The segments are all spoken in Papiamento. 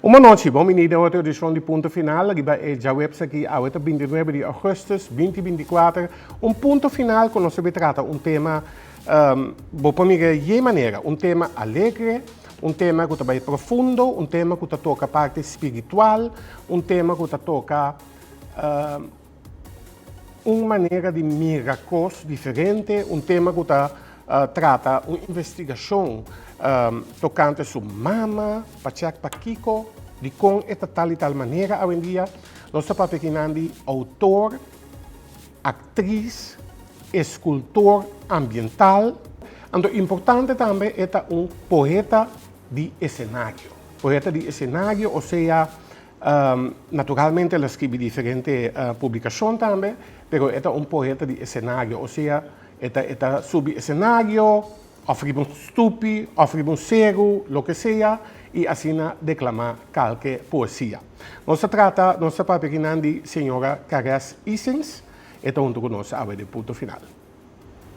Un bon nochi, bon bini den otro edicion di Punto Final, riba e djaweps aki, awe ta binti nuebe di augustus binti binti kuater, un punto final cu nos a bin trata un tema, bo por mira e yey manera, un tema alegre, un tema cu ta bay profundo, un tema cu ta toca parti spiritual, un tema cu ta toca. Un manera di mira kos diferente, un tema ku ta trata un investigashon tokante su mama, pachèk pakiko, dikon e ta tal i tal manera awendia. Nos ta papia aki nan di outor, aktris, eskultor ambiental, anto importante tambe e ta un poeta di esenario. Poeta di esenario, osea Naturalmente el a scribi diferente publicacion tambe, pero e ta un poeta di escenario, o sea, e ta e ta subi escenario of riba un stupi of riba un seru, loke sea, y asina declama calke poesia. Nos ta trata, nos ta papia aquí nan di Señora Caresse Isings, e ta hunto cu nos awe den Punto Final.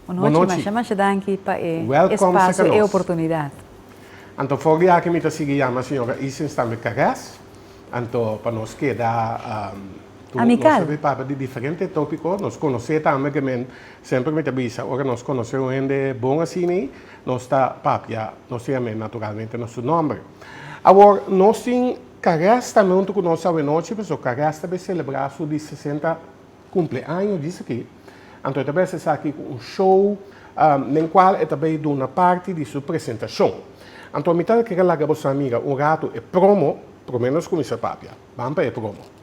Bonochi. Masha masha danki pa e espacio, e oportunidad. Anto for di aki mi ta sigui yama señora Isens tambe Carrez, anto pa nos keda cu Amical. Nos ta papia di diferente topico, nos conoce tambe que men semper mi ta bisa ora nos conoce un hende bon asina nos ta papia nos ta yama e naturalmente na su nomber. Awor nos tin Carrez tambe hunto cu nos awe nochi pasobra Carrez ta be celebra su di sesenta. Cumpleaño, dice aquí. Anto e ta bes esaki cu un show nen cual e ta bay duna parti di su presentacion. Anto mi tal kere laga boso a mira un rato e promo, prome nos cuminsa papia. Ban pa e promo.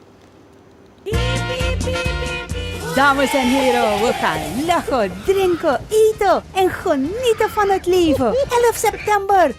Dames en hero, we ga lacho, drinko, eato en gonito van het leven. Elf september!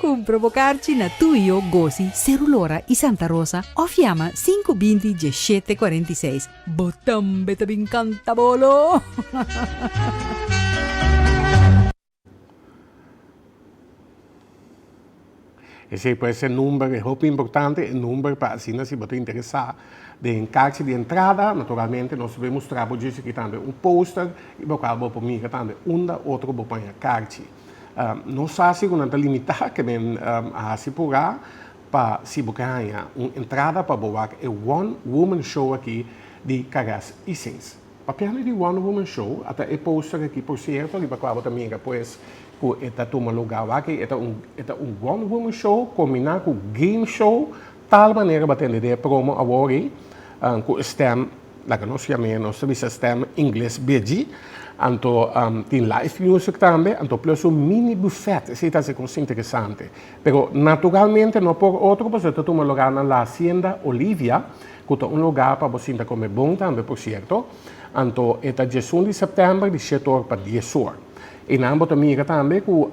Cumpra bo carchi na Tuyo, Gosi, Cerulora y Santa Rosa of yama sinku binti diesshete cuarenta y seis. Bo tambe ta bin canta bolo! Esey pues e number, e hopi importante, e number pa asina si bo ta interesa den carchi di entrada, naturalmente nos bai mustra bo djis aki tambe un poster y bo cual bo por mira tambe unda otro bo paña carchi. Nos hasi ku nan ta limitá ke men a hasi pogá pa si bo ke haña un entrada pa bo wak e One Woman Show aki di Caress Isings. Papia mi di One Woman Show a ta e póster aki por sierto riba kua bo ta mira pues ku e ta tuma lugá wak ei. E ta un One Woman Show kombiná ku game show Tal manera bo a tende den e promo awor ei, cu e stem, laga nos yam'e, nos ta bisa stem ingles bidji, anto tin live music tambe, anto plus un mini buffet, esey ta hace cos interesante. Pero naturalmente no por otro boso ta tuma loga na La Hacienda Olivia, cu ta un loga pa bo sinta come bon tambe por cierto, anto e ta diesun di september di shet or pa dies or. E nan bo ta mira tambe ku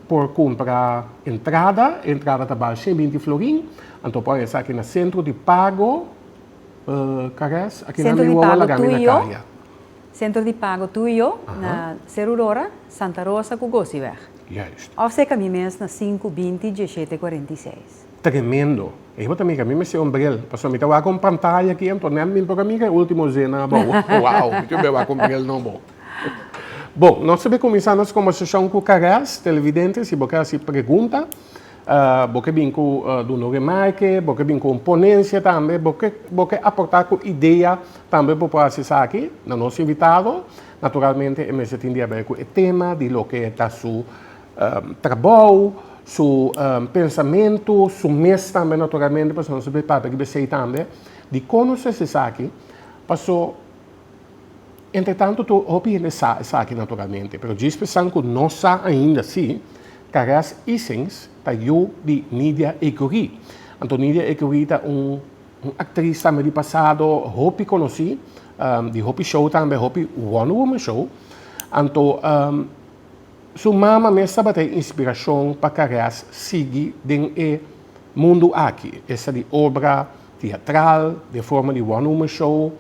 por kumpra entrada, entrada ta bal shen binti florin, anto pon esaki na sentro di pago, Caress, aki nan mi wowo laga mi na kaya. Sentro di pago tu i yo, na Ser Aurora, Santa Rosa ku Gosiweg. Juist. Òf seka mi mes na sinku binti dieshete kuarenta i seis. Tremendo. Ei bo ta mira mi mester un bril, pasobra mi ta wak un pantaya aki anto nèt mi por a mira e ultimo zin nan abou. Wou, mi ta be wak un bril nobo. Bon, nos ta bin kuminsá nos kòmbersashon ku Caress, televidente, si bo ke hasi pregunta, bo ke bin ku duna un remarke, bo ke bin ku un ponensia tambe, bo ke bo ke aportá ku idea tambe bo por hasi esaki na nos invitado, naturalmente e mester tin di haber ku e tema di loke ta su trabou, su pensamentu, su mes tambe naturalmente, pasobra nos ta bin papia riba esei tambe, di kon nos ta hasi esaki, paso. Entretanto tur hopi hende sa esaki naturalmente, pero djis pensan cu no sa ainda si Caress Isings ta yu di Nidia Ecurie. Anto Nidia Ecurie ta un un actriz tambe di pasado hopi conoci, di hopi show tambe, hopi Wonder Woman show. Anto su mama mes tabata e inspiracion pa Caress sigui den e mundo aki, esa di obra. Teatral, den forma di one woman show,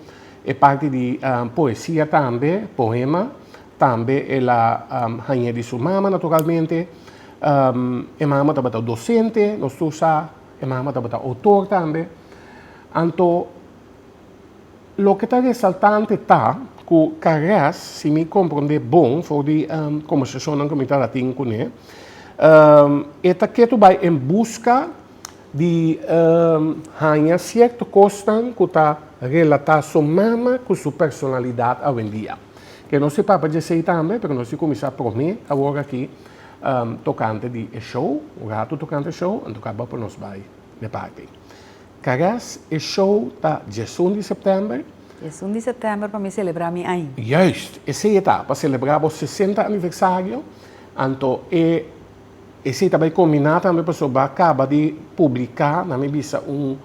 e parti di poesia tambe, poema, tambe el a hañ'é di su mama naturalmente. E mama tabata dosente, nos tur sa, e mama tabata otor tambe. Anto, loke ta resaltante ta ku Carrez, si mi komprond'é bon for di kombersashonnan ku mi tabata tin kuné, e ta ketu bai en buska di haña sierto kosnan ku ta relatá su mama ku su personalidat awendia. Ke nos e papa dje sei tambe, pero nos tin kuminsá promé awor aki tokante di e show, un ratu tokante e show, anto kaba pa nos bai n'e parti. Karas e show ta djesun di sèptèmber. Djesun di sèptèmber pa mi selebrá mi aña. Juist, esei e ta, pa selebrá bo sesenta aniversario, anto e E si ta bai combiná tambe pasobra bo a caba di publicá, na mi bisa, un,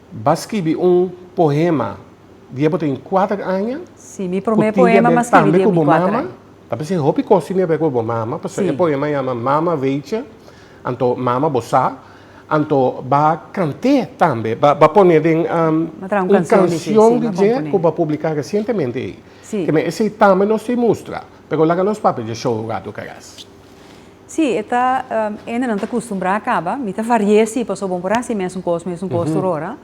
ba scribi un poema di e bo ta tin cuater aña. Sí, mi promé poema m'a scribi di e mi cuater aña. Ta bisa e hopi cos tin di a bai cu bo mama, pasobra e poema yama Mama Weetje, anto Mama bo sa, anto b'a cant'é tambe, b'a pon'é den un cancion di dje cu b'a publicá recientemente ei. Keme esei tambe nos ta e mustra, pero laga nos papia dje show un rato caras. Sí, e ta, hende nan ta custumbrá a caba, mi ta varié sí, pasobra bo por haci mesun cos, mesun cos tur ora.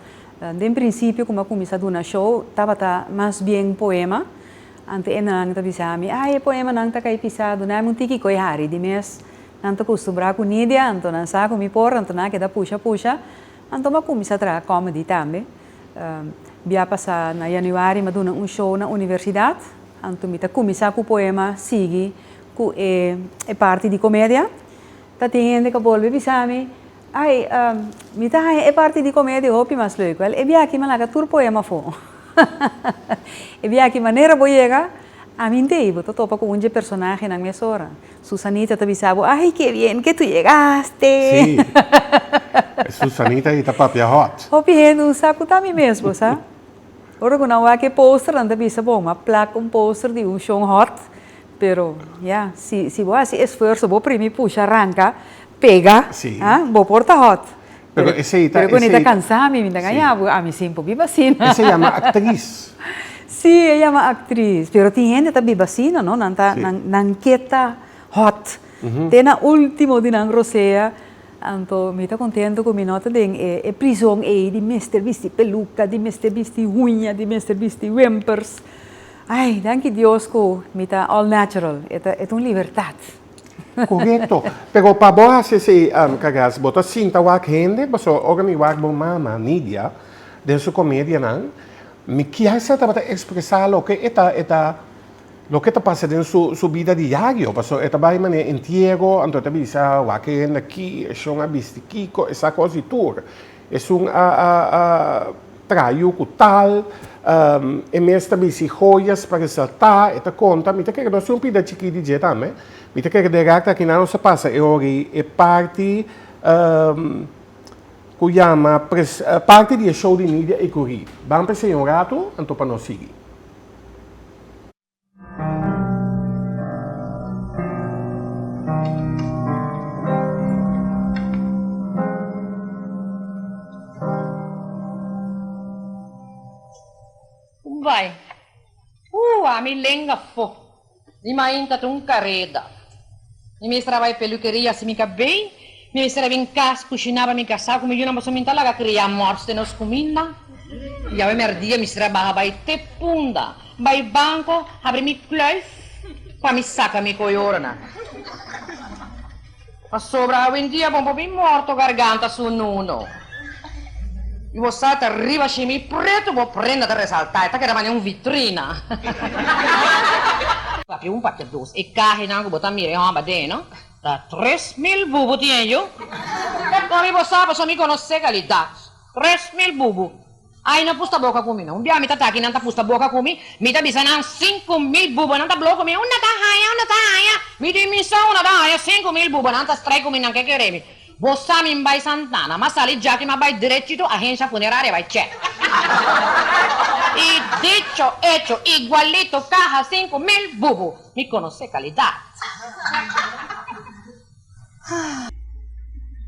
Den principio cu mi a cuminsá duna show tabata mas bien poema, anto hende nan ta bisá mi, ay e poemanan ta cai pisá, dunami un tiki coi hari, di mes nan ta custumbrá cu Nidia, anto nan sa cu mi por, anto nan a keda pusha pusha, anto bo a cuminsá traha comedy tambe. Bia pasá na januari mi a duna un show na universidad, anto mi ta cuminsá cu poema, sigui. cu e e parti di comedia ta tin hende cu a bolbe bisa mi ay mi ta haña e parti di comedia hopi mas leuk wel e biachi mi a laga tur poema afo e biachi manera bo yega amintey bo ta topa cu un dje personahenan mesora Susanita ta bisa bo ay que bien que tu yegaste e Susanita ahi ta papia hot. Hopi hende un sa cu ta mi mesbo sa ora cu nan wak e posternan ta bisa bon ma plak un poster di un show hot Pero, ya, si, si bo hasi esfuerso, bo primi pusha, ranka, pega, Sí. ha, bo por ta hot. Pero esei ta- Pero cuando esei ta ta- cansá, mi bin ta Sí. gañá, pues, ami sin por biba asina. Esei yama actriz. Sí, e yama actriz. Pero tin hende ta biba asina, no? Nan ta, Sí. nan, nan ke ta hot. Te na último di nan rosea. Anto mi ta contento cu mi no ta den e, e prizon ei di mester bisti peluca, di mester bisti huña, di mester bisti wimpers. Ay, danki Dios ku mi ta all natural. E ta e ta un libertat. Korekto. Pero pa bo hasi esei kagas, bo ta sinta wak hende? Paso ora mi wak bo mama, Nidia, den su komedianan, mi kier sa tabata ekspresá loke e ta e ta loke ta pasa den su su bida diario. Paso e ta bai manera entiero, anto e ta bisa wak hende aki, e shon a bisti kiko, e sa kos di tur. Esun a traiu ku tal, e mes ta bisti hoyas pa resaltá, e ta konta, mi ta kere nos tin un pida chikí di dje tambe, mi ta kere dera ta kina nos ta pasa e ora ei, e parti ku yama parti di e show di media ei kuri, ban pa e señor un ratu, anto pa nos sigui. Bai. Ooh a mi lenga fo. Mi mainta ta un careda. Mi mester a bai peluqueria si mi ka bay. Mi mester a bin cas cushina pa mi casa cu mi yunan pasobra mi ta laga cria mors den nos cuminda. Yawe merdia mester a baha bay te punda, bay banco habri mi kluif pa mi saca mi coyornan. Pasobra awendia bon por bin morto garganta su nuno. Y bo sa ta riba shimi preto bo prenda ta resalta, e ta keda manera un vitrina. Papi un papi dos e cahenan cu bo ta mira e homber den no. Ta tres mil bubu tin e yu. Pero con riba bo sa pasobra mi conoce calidad. Tres mil bubu. Ay no pusta boca cu mi no. Un biaha mi ta taki nan ta pusta boca cu mi, mi ta bisa nan cinco mil bubanan ta blou cu mi. Unda ta haya? Unda ta haya? Mi tin misa unda ta haya cinco mil bubanan ta strei cu mi nan ke kere mi. Bo sa mi n'bai Santana, m'a sali djaki m'a bai drechito agencia funeraria bai check. Y dicho hecho, igualito caja cinco mil bubu. Mi conoce calidad.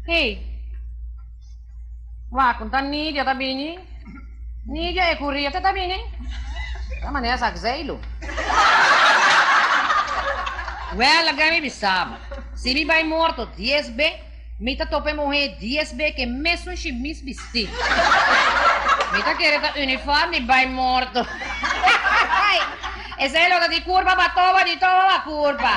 Hey. Wak con ta Nidia ta bini. Nidia Ecuria te ta bini? Ta manera sa Xeylo. Well again mi bisaba. Si mi bay morto dies be. Mi ta topa e muhé dies bek e mesun shimis bistí. Mi ta kere ta uniform di bai morto. Esei lo ta di kurpa pa toba di toba a kurpa.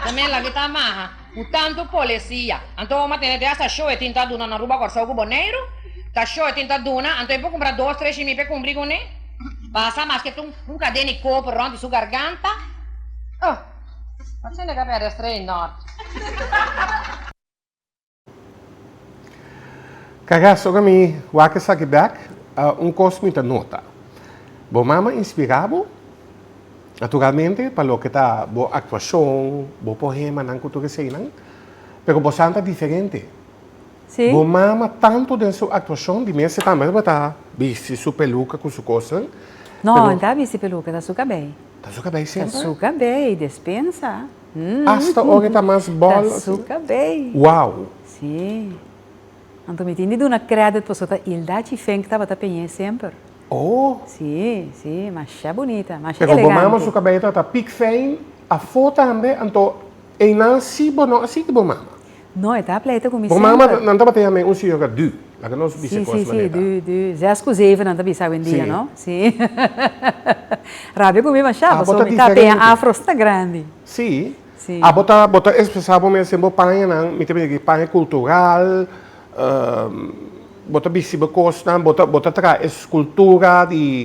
Tambe laki ta maha ku tantu polesia. Anto homa tene te hasta shoe tin ta duna na Aruba, Kòrsou ku Boneiru. Ta shoe tin ta duna. Anto e por kumpra dos tres shimi p'e kumpli kuné. Pasa maske ta un kadena di koper rònt di su garganta. Oh! Kaga soga mi wak esaki bek, un kos mi ta nota. Bo mama inspirá bo? Naturalmente pa loke ta bo aktuashon, bo poemanan ku tur esei nan. Pero bo santa diferente. Bo mama tantu den su aktuashon, di mes si tambe bo ta bisti su peluka ku su kosnan. No, no ta bisti peluka, ta su kabei. Ta suka bay semper? Ta suka bay, despensa. Hm. Hasta ora ta mas bol? Ta suka bay. Wow! Sí. Anto mi tin di duna credit paso ta Ilda Chifink tabata peñe semper. Oh! Sí, sí. Masha bunita, masha elegante. Pero bo mama suka bay tabata pik fijn, afó tambe, anto E nan si bo no a si di bo mama. No e ta pleite ku mi semper. Bo mama nan tabata yama e un señora dü. Laga nos bisa kos manera. Si si si dü dü. Zes ku zeven nan ta bisa awendia no. Si. Rabia ku mi masha paso mi ta teña afros ta grandi. Si. Si. A bo ta bo ta espresa bo mes en bo paña nan mi ta bisa ki paña kultural bo ta bisti bo kosnan bo ta bo ta traha es kultura di.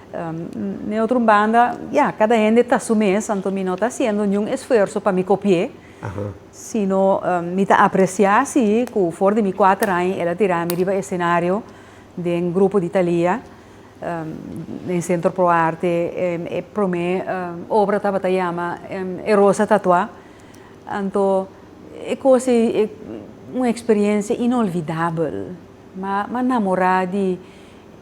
Den otro un banda, ya, cada hende ta su mes, anto mi no ta haciendo niun esfuerzo pa mi copi'é, sino mi ta apreciá sí cu for di mi cuater aña el a tirá mi riba escenario den grupo di Thalia den Centro Pro Arte. E promé obra tabata yama E Rosa Tatuá. Anto e cos ei e un experiencia inolvidabel. M'ha namorá di.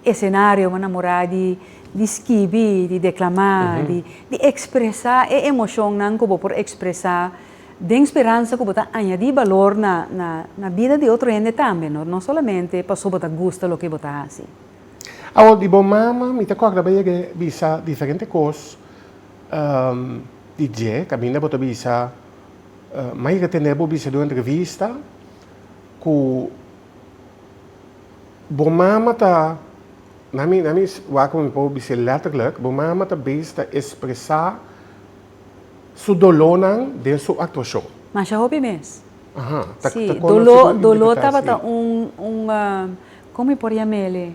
Esenario bo namorá di di skibi, di deklamá, di ekspresá e emoshonnan ku bo por ekspresá den speransa ku bo ta añadí balor na na na bida di otro hende tambe, no no solamente paso bo ta gusta loke bo ta hasi. Awor di bo mama mi ta kòrda bo yega bisa diferente kos di dje, kaminda bo ta bisa mai retené bo bisa di un entrevista ku Bo mama ta, na mi, na mi wak mi por bis'é letterlijk, bo mama ta bez ta expresa su dolónan den su actuacion. Masha hopi mes. Aha, ta conoce como interpreta así. Sí, doló, doló tabata un, un, como mi por yam'ele?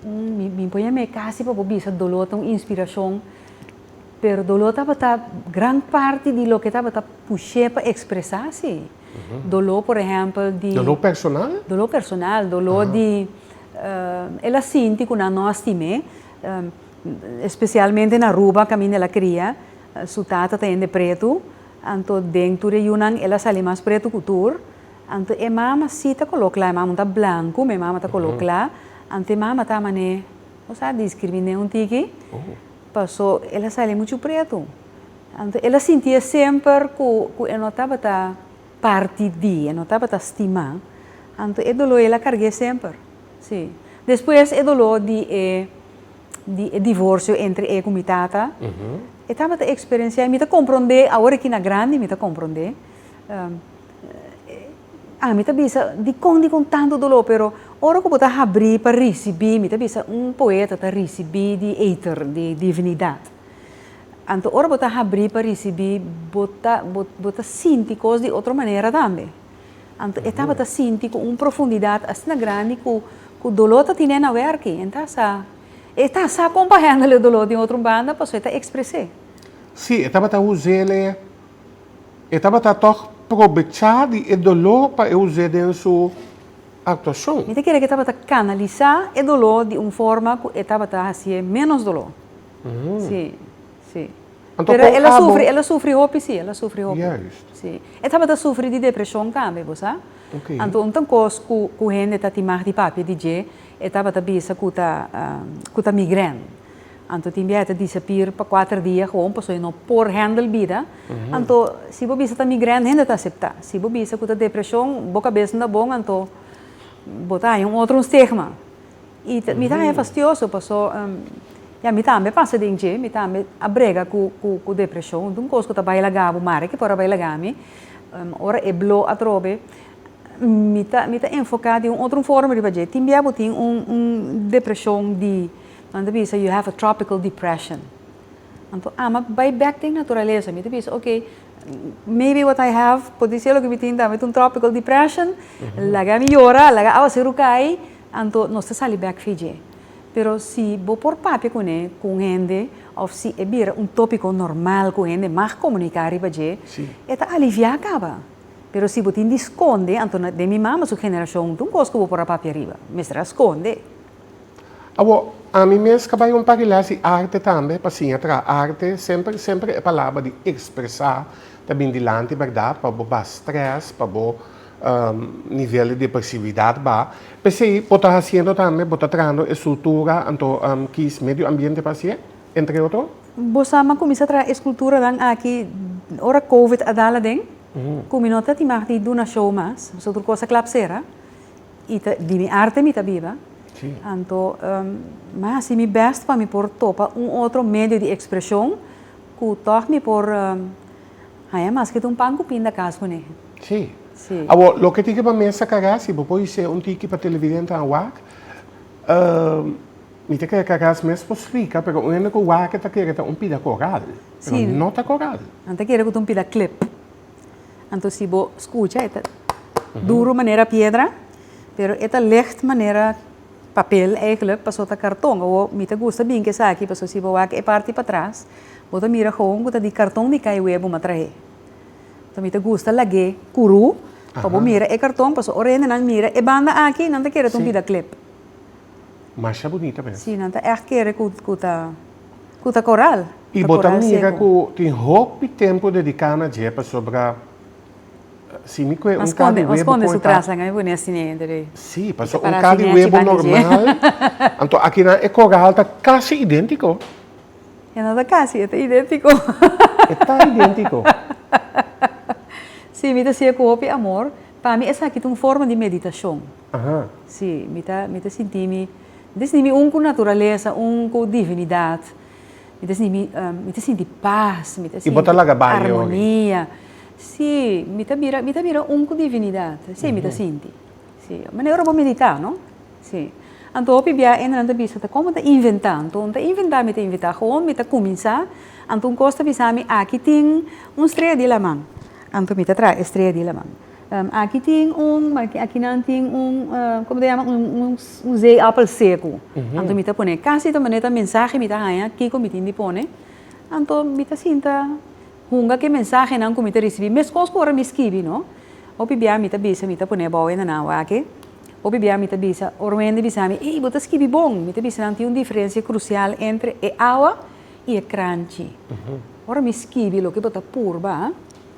Un, mi, mi por yam'e casi pa bo bisa doló ta un inspiracion, pero doló tabata gran parti di loke tabata push'é pa expresa si. Doló, por ehèmpel, di. Doló personal? Doló personal, doló di el a sinti ku nan no a stim'é, spesialmente na Aruba kaminda el a kria, su tata ta hende pretu, anto den tur e yunan el a sali mas pretu ku tur, anto e mama si ta koló kla, e mama no ta blanku, ma e mama ta koló kla, anto e mama ta manera, o sa, diskrimin'é un tiki, paso el a sali muchu pretu. Anto el a sintia semper ku ku e no tabata parti di, e no tabata stimá. Anto e doló el a karg'é semper. Sí. Despues e doló di e di e divorsio entre e ku mi tata, e tabata eksperensiá, i mi ta komprondé, awor aki na grandi mi ta komprondé. Ami ta bisa, dikon dikon tantu doló, pero ora ku bo ta habrí pa risibí, mi ta bisa un poeta ta risibí di eter, di divinidat. Anto ora bo ta habrí pa risibí, bo ta, bo, bo ta sinti kos di otro manera tambe. Anto e tabata sinti ku un profundidat asina grandi ku, ku doló ta tine na wèrki. E ta sa, e ta sa kon pa hèndel e doló den otro banda, pasobra e ta ekspres'é. Sí, e tabata uz'el, e, e tabata tòg probechá di e doló pa e uz'é den su aktuashon. Mi ta kere ku e tabata kanalisá e doló di un forma ku e tabata hasié ménos doló. Mm. Sí, sí. Anto Pero con el a abo- sufri, el a sufri hopi, sí, el a sufri hopi. Juist. Sí. E tabata sufri di depresion tambe, bo sa? Ok. Anto un kos ku, ku hende ta timag di papia di dje, e tabata bisa ku ta, ehm, ku ta migrèn. Anto tin bia e ta disapir pa kuater dia gewoon pasobra e no por hèndel bida. Anto si bo bisa ta migrèn, hende ta aseptá. Si bo bisa ku ta depresion, bo kabes no ta bon, anto bo ta haña un otro un stigma. I mi ta haya fastioso paso ya mi tambe pasa den dje, mi tambe a brega cu cu depresion, un cos cu ta bay laga bo mari ki por a bay laga mi, ora e blo atrobe mi ta mi ta enfoca di un otro forma riba dje, tin bia bo tin un un depresion di nan ta bisa you have a tropical depression, anto ama bay bek den naturalesa, mi ta bisa ok maybe what i have por dice loke mi tin tambe ta un tropical depression, laga mi yora, laga a base rucay. Anto nos ta sali bek fi dje. Pero si bo por papia ku ne ku un hende òf si e bira un tópiko normal ku hende mag komuniká riba dje, e ta aliviá kaba. Pero si bo tin di skonde, anto na den mi mama su generashon ta un kos ku bo por a papia riba, mester a skonde. Awor, ami mes ka bai un parelas di arte tambe pa siña traha arte. Semper, semper e palabra di ekspresá ta bin dilanti, bèrdat? Pa bo bas strès, pa bo. Nivel di pasividad ba. P'esei bo ta hasiendo tambe, bo ta trahando e struktura anto kis medio ambiente pa hasié, entre otro? Bo sa mi a kuminsá traha e skulturanan aki ora Covid a dal aden, ku mi no ta timá di duna show mas, pasobra tur kos a klap sera. I ta di mi arte mi ta biba. Anto mi a hasi mi bèst pa mi por topa un otro medio di ekspreshon ku tòg mi por. Ai, a maskit un pan ku pinda kas ku nehe. Sí. Sí. Awor, loke tiki pa mesa kará, si bo por hisé un tiki pa televidentenan wak, mi ta kere karás mes por splika, pero un hende ku wak e ta kere ta un pida koral, pero no ta koral. Sí. Nan ta kere ku ta un pida klep. Anto si bo skucha e ta duru manera piedra, pero e ta lègt manera. Papel eigenlijk paso ta karton. Awo mi ta gusta binki esaki paso si bo wak e parti patras bo ta mira houn ku ta di karton ni kai wea bo m'a trahe. Paso mi ta gusta lag'é kuru pa bo mira e karton paso ora hende nan mira e banda aki nan ta kere ta un bida klep. Masha bunita mes. Sí, nan ta ègt kere ku ku ta ku ta koral. I bo ta mira ku tin hopi tempu dediká na dje pasobra. Si mi kue un kadi webo. Mas konde su trasa ngai buni a siñe entre ei. Si, pasobra un kadi webo normal. Anto akinan e koral ta kasi idéntiko. E no ta kasi, e ta idéntiko. E ta idéntiko. Si, mi ta siña ku hopi amor. Pa mi esaki ta un forma di meditashon. Aha. Si, mi ta, mi ta sinti mi, mi ta sinti mi un ku naturalesa, un ku divinidat. Mi ta sinti mi, mi ta sinti pas, mi ta sinti. I bo ta laga bai e ogi? Armonia. Sí, mi ta bira, mi ta bira un cu divinidad. Sí, mi ta sinti. Sí, manera ora bo medita, no? Sí. Anto hopi bia enda nan ta bisa, ta como ta inventa? Anto mi ta inventa, mi ta inventa. Gewoon mi ta cuminsa, anto un cos ta bisami, aki tin un strea di laman. Anto mi ta traha e strea di laman. Aki tin un, maki akinan tin un, como ta yama, un zeeappel secu. Anto mi ta pone, casi ta manera ta mensahe mi ta haña kico mi tin di pone. Anto mi ta sinta. Hunga ke mensahenan ku mi ta risibí, meskos ku ora mi skibi, no? Hopi bia mi ta bisa, mi ta pone abou e nanao akí. Hopi bia mi ta bisa, ora un hende bisa mi, Ei, bo ta skibi bon! Mi ta bisa nan, tin un diferensia krusial entre e awa i e kranchi. Ora mi skibi, loke bo ta purba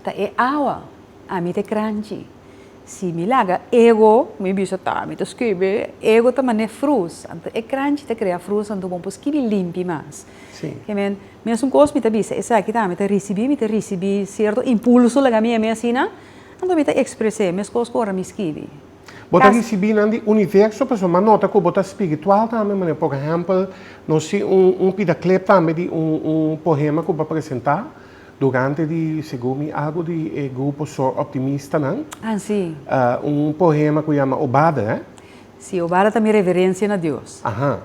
ta e awa, ami ta e kranchi. Si mi laga ego, ku mi bisa, Ta, mi ta skibi, ego ta man'é frus. Anto e kranchi ta krea frus, anto bo por skibi limpi mas. Sí. Ke men, mesun kos mi ta bisa, esaki tambe ta risibí, mi ta risibí sierto impulso laga mi, e mi asina, anto mi ta ekspres'é mes kos ku ora mi skibi. Bo ta risibí nan di universo, pasobra mi a nota ku bo ta spiritual tambe, manera por ehèmpel, nos tin un, un pida klep tambe di un, un pohema ku bo a presentá durante di, segun mi, algu di e grupo Soor Optimistanan. Ah, sí. Un pohema ku yama Obada, eh? Sí, Obada ta mi reverensia na Dios. Aha.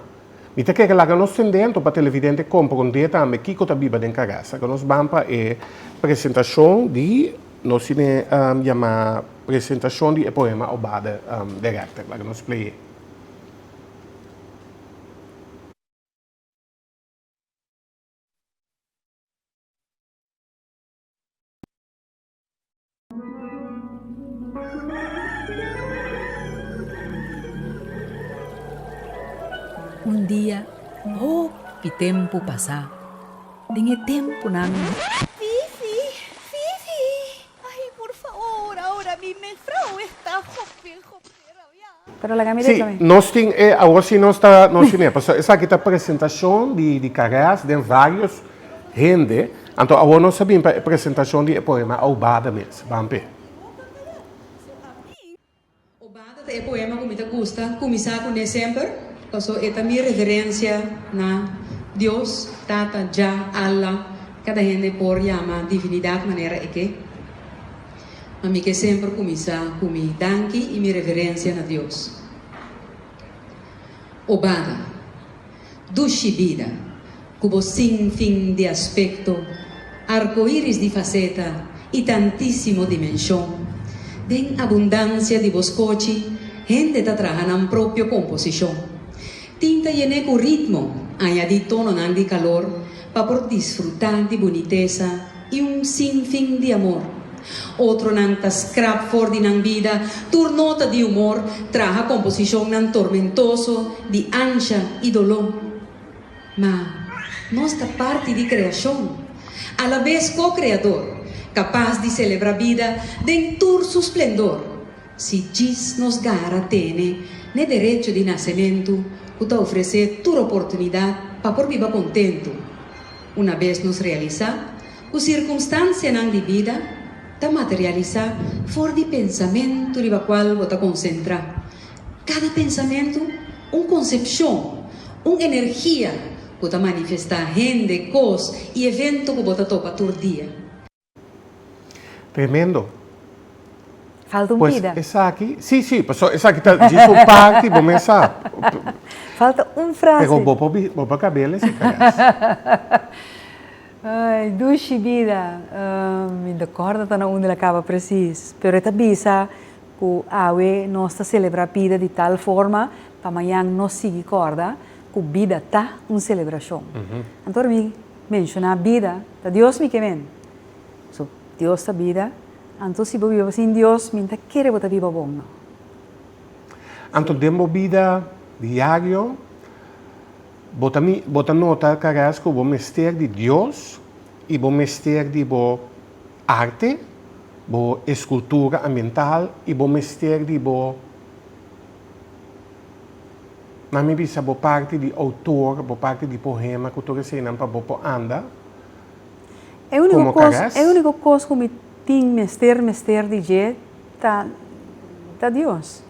Mi ta kere laga nos tin dentro pa televidente komprondé tambe kiko ta biba den karasa. Ku nos ban pa e presentashon di nos tin e yamá presentashon di e poema Obade de Rechter. Laga nos play'é. Un dia, hopi tempu pasá, den e tempunan. Fifi, Fifi, ay, por faor, aora mi mefrou esta hopi, hopi. Sí, nos tin e, awor sí nos ta, nos tin e, pasobra esaki ta presentacion di, di carreras den varios hende, anto awor nos ta bin pa e presentacion di e poema Aubada mes. Ban p'e. Obada ta e poema cu mi ta gusta cuminsa cu ne semper, pasobra e ta mi referencia na Dios, Tata, Jah, Allah, cada hende por yama divinidad manera e ke. ma mi ke semper kuminsá ku mi danki i mi reverensia na Dios. O Bada, dushi bida ku bo sinfin di aspekto, arkoiris di faseta i tantísimo dimenshon, den abundansia di bo skochi hende ta traha nan propio komposishon. Tin ta yené ku ritmo, añadí tononan di kalor pa por disfrutá di bunitesa, i un sin fin di amor. Otronan ta skrap for di nan bida tur nota di humor, traha komposishonnan tormentoso di ansha i doló. Ma, nos ta parti di kreashon, alabes ko-kreador, kapas di selebrá bida den tur su splendor. Si djis nos gara tene n'e derecho di nasementu cu ta ofrece tur oportunidad pa por biba contentu, una bes nos realisa cu circunstancianan di bida ta materialisa for di pensamentu riba cual bo ta concentra, cada pensamentu un concepcion, un energia cu ta manifesta hende, cos y evento cu bo ta topa tur dia. Tremendo. Falta un vida. Pues esaki, si, si, paso esaki ta djis un parti, bo mesa. Falta un frase. Pero bo por, bo por cabe lesa caras. Ay, dushi bida. Um, mi ta corda ta na unda el a caba precies. Pero e ta bisa cu awe nos ta celebra bida di tal forma pa mañan nos sigui corda cu bida ta un celebracion. Anto pa mi. Menshona bida, ta Dios mi ke men. So, Dios ta bida, anto si bo biba sin Dios, mi nta kere bo ta biba bon no. Anto den bo bida diario, bo ta mi, bo ta nota karaz ku bo mester di Dios i bo mester di bo arte, bo eskultura ambiental i bo mester di bo. na mi bisa bo parti di outor, bo parti di pohema ku tur eseinan pa bo por anda komo kares. E uniko kos ku mi tin mester mester di dje ta ta Dios.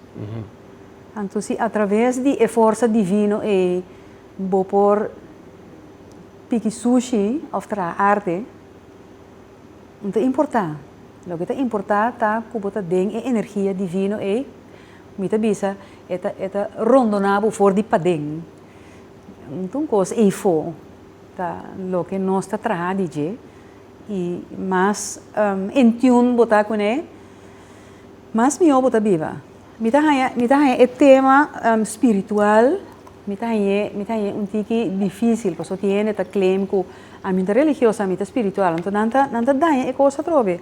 Anto si atraves di e forsa divino ei bo por piki sushi of traha arte, no ta importa. Loke ta importa ta ku bo ta den e energia divino ei. Mi ta bisa, e ta e ta rondoná bo for di paden. Nton un kos eifo ta loke nos ta traha di dje, i mas en tune bo ta kuné, mas mihó bo ta biba. Mi ta haña mi ta haña e tema spiritual, mi ta hañ'é mi ta hañ'é un tiki difísil, pasobra tin hende ta claim ku a mi ta religioso, a mi ta spiritual. Nton nan ta nan ta daña e kos atrobe.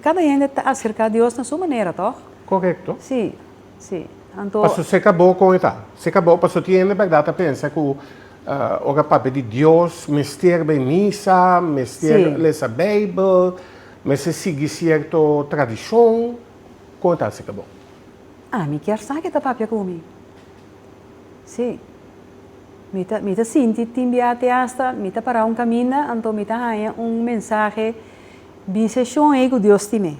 Kada hende ta aserká Dios na su manera, tòg? Korekto. Sí, sí. Anto. Paso se kabó kon e ta. Se kabó paso ti hende bèrdat ta pensa ku ora papia di Dios mester bai misa, mester lesa Beibel, mester sigui sierto tradishon. Kon e ta se kabó? Ah, mi kier sa ke ta papia ku mi. Sí. Mi ta mi ta sinti tin bia te asta mi ta para un kaminda anto mi ta haña un mensahe, Biseshon ei ku Dios tin mei.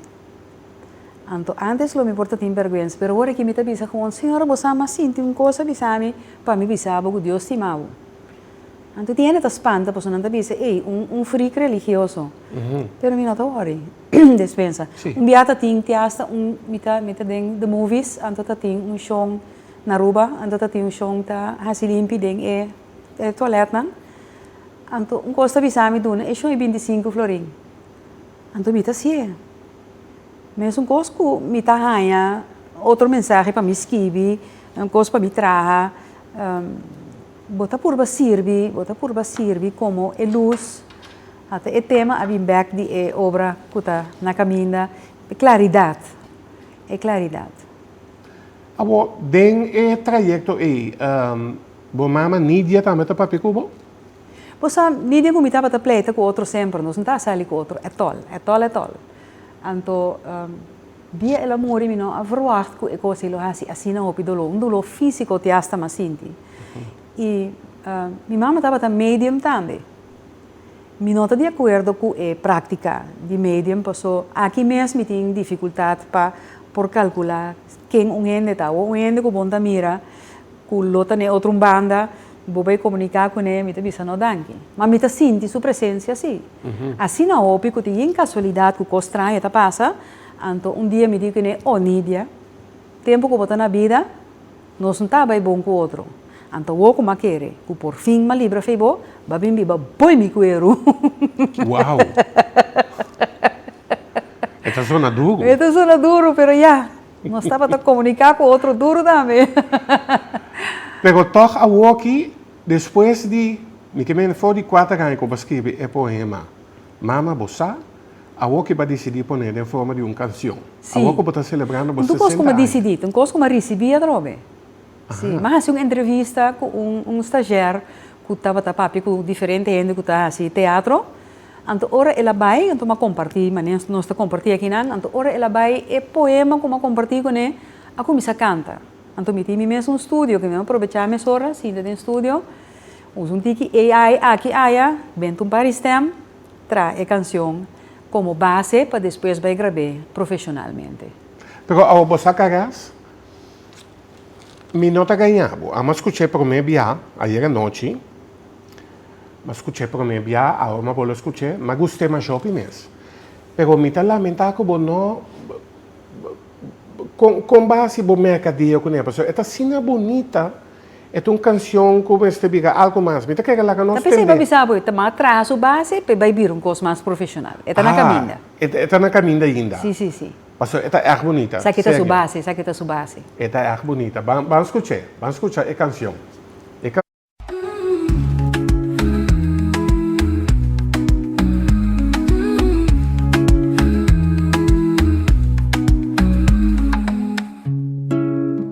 Anto antes lo mi por ta tin bèrgwens, pero ora ki mi ta bisa ku un señor bo sa mas sinti un kos a bisa mi pa mi bisa bo ku Dios stima bo. Anto di hende ta spanta pasobra nan ta bisa, ei, un frik religioso. Pero mi no ta wòri. Despues a un bia ta tin te asta un, mi ta mi ta den The Movies, anto ta tin un shon na Aruba, anto ta tin un shon ta hasi limpi den e e tualètnan. Anto un kos ta bisa mi, Duna, e shon e binti sinku florin. Anto mi ta siee. Mesun kos ku mi ta haña otro mensahe pa mi skibi, un kos pa mi traha, bo ta purba sirbi, bo ta purba sirbi komo e lus. A ta e tema a bin bèk di e obra ku ta na kaminda, e klaridat, e klaridat. Awor, den e trayekto ei, bo mama Nidia tambe ta papia ku bo? Bo sa, ni den ku mi tabata pleita ku otro semper, nos no ta a sali ku otro etol, etol, etol. Anto, dia el a muri mi no a verwagt ku e kos ei lo hasi asina hopi doló, un doló físiko ti asta m'a sinti. I mi mama tabata medium tambe. Mi no ta di akuerdo ku e práktika di medium pasó aki mes mi tin difikultat pa por kalkulá ken un hende ta, awo un hende ku bon ta mira. Cu lo ta n'e otro un banda, bo bay comunica cu n'e, mi ta bisa no danki. Ma mi ta sinti su presencia si. Asina hopi cu tin yin casualidad cu cos straño ta pasa, anto un dia mi di cu n'e, Oh Nidia, tempo cu bo ta na bida, nos n'ta bay bon cu otro. Anto awo cu m'a kere, cu por fin m'a libra fey bo, b'a bin biba boy mi cuero. E ta sona duro. E ta sona duro, pero ya, Nos tabata comunica cu otro duro tambe. Pero toch awoki, despues di, mi ke mene for di kuater aña ku bo a skirbi e poema Mama bo sa, awoki bo a disidí poné den forma di un kansion. Sí. Awor ku bo ta selebrando bo sesenta aña. Entu kos ku mi a disidí, ten kos ku mi a risibí atrobe. Si, m'a hasi un entrevista ku un un stagiair ku tabata papia ku diferente hende ku ta hasi teatro, anto ora el a bai, anto m'a kompartí mane nos ta kompartí aki nan, anto ora el a bai e poema ku m'a kompartí kuné a kuminsá kanta. Anto mi tin mi mes un studio ke mi a probechá mesora sinta den studio, usa un tiki AI aki aya, benta un par istèm, traha e kanshon komo base pa despues bai grab'é profeshonalmente. Pero awe bo sa karas? Mi no ta gañá bo. Amo a skuch'é promé biaha ayera nochi. M'a skuch'é promé biaha, awo m'a bole skuch'é. M'a gust'é mas hopi mes. Pero mi ta lamentá ku bo no Kon kon base bo meka dia kuné? Pasobra e ta asina bunita. E ta un kanshon ku mester bira algu mas. Mi ta kere laga nos tende. Ta pensa i bai bisa bo, i ta manda traha su base pa i bai bira un kos mas profeshonal. E ta na kaminda. Ah, e ta na kaminda ainda. Sí, sí, sí. Pastor, e ta erg bunita. Saki ta su base, saki ta su base. E ta erg bunita. Ban, ban scuch'e. Ban scucha e cancion. E can.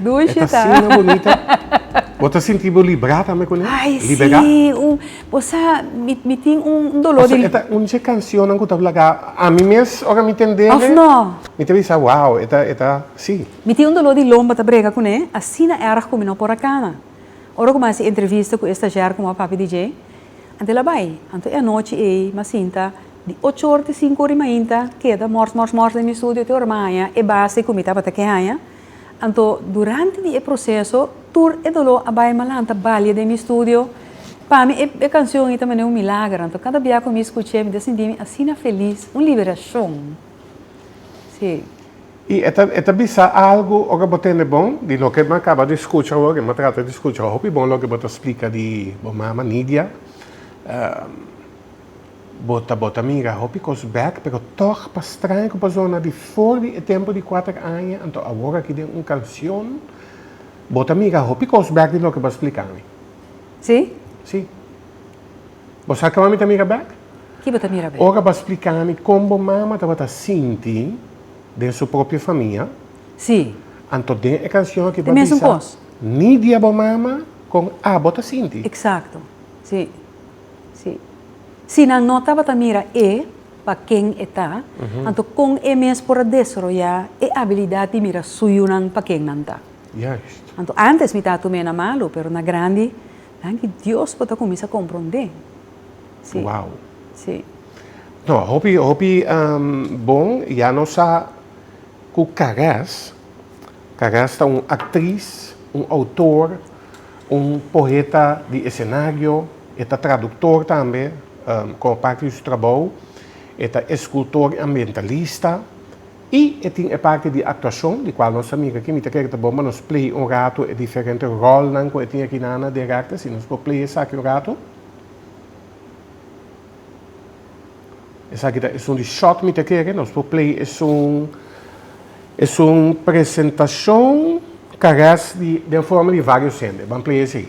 Bo ta sinti bo bonita? Bo ta sinti bo libra tambe kuné? Libera? Pasobra e ta un di e kanshonnan ku ta blaga ami mes ora mi tendel mi ta bisa wow e ta e ta si. Mi tin un doló di lomba ta brega kuné asina erg ku mi no por a kana. Ora ku mi a hasi entrevista ku e stashier ku mi a papia di dje Anto e la bai. Anto e anochi ei, m'a sinta, di ocho or te sinku or i mainta, keda mors mors mors den mi studio te ora m'a haña e base ku mi tabata ke haña. Anto durante di e proseso tur e doló a bai m'a lanta balia den mi studio. Pa mi e e kanshon ei ta manera un milager. Anto kada bia ku mi skuch'e mi ta sinti mi asina felis, un liberashon. Sí. Y e ta e ta bisa algo ora bo tende bon di loke bo a caba di scucha awor y bo a trata di scucha hopi bon loke bo ta splica di bo mama Nidia. Bo ta bo ta mira hopi cos bek pero toch pa straña cu persona di for di e tempo di cuater aña anto awor aki den un cancion bo ta mira hopi cos bek di loke bo a splica mi. Sí. Sí. Bo sa kòm mi ta mira bèk? Ki bo ta mira bèk? Ora bo a splika mi kon bo mama tabata sinti den su propio famia, Sí. anto den e kanshon aki bo a Di mesun bisa kos. ni dia bo mama kon abo ta sinti. Eksakto. Sí. Sí. Si nan no tabata mira e pa ken e ta, anto kon e mes por a desaroyá e abilidat di mira suyunan pa ken nan ta? Juist. Anto antes mi tatu mena malu, pero na grandi. Danki Dios bo ta cuminsa comprende. Si. Wow. Si. No, hopi, hopi um, bon, ya nos sa cu Cares, Cares ta un actriz, un autor, un poeta di escenario, e ta traductor tambe, um, como parte di su trabou, e ta escultor y ambientalista, I e tin e parti di actuacion, di cual nos ta mira aki. Mi ta kere ta bon pa nos play un rato e diferente rolnan cu e tin aki na Ana Derarte. Si nos por play esaki un rato. Esaki ta esun di short mi ta kere. Nos por play esun, esun presentacion carez di, den forma di varios hende. Ban play esey.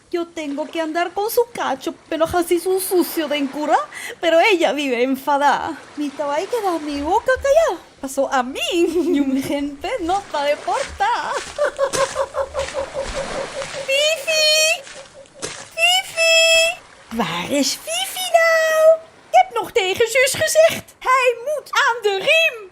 Yo tengo que andar con su cacho pe lo haci su sucio den cura, pero ella vive enfada. Mi ta bay keda mi boca caya, paso a mi niun gente no ta deporta. Fifi! Fifi! Waar is Fifi nou? Ik heb nog tegen Jus gezegd, hij moet aan de riem!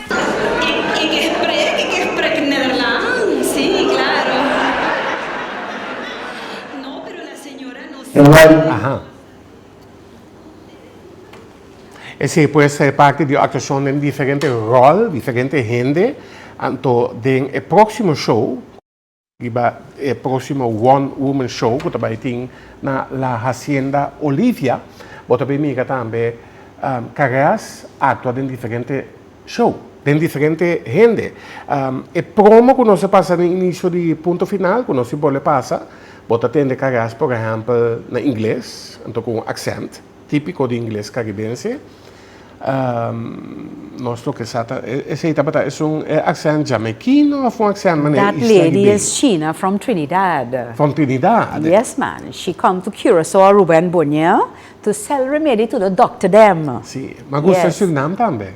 Ik spreek, ik spreek Nederlands, sí, claro. No, pero la señora no sabe. Uno al, aha. Esei por a ser parti di actuacion den diferente rol, diferente hende. Anto den e proximo show. Riba e próximo One Woman Show cu ta bay tin na La Hacienda Olivia, bo ta bay mira tambe careas actua den diferente show, den diferente hende. E promo cu nos a pasa den inicio di Punto Final, cu nos tin por ley pasa, bo ta tende careas, por ehempel, na Ingles, anto cu un accent. Típiko di ingles karibense. Nos toke sa ta esei tabata esun e aksènt jamekino òf un aksènt manera That Isla lady Ribeiro? is China from Trinidad. From Trinidad? Yes man, she come to Curaçao, Aruba and Bonaire to sell remedy to the doctor dem. Sí, ma a gusta Yes. Surinam tambe.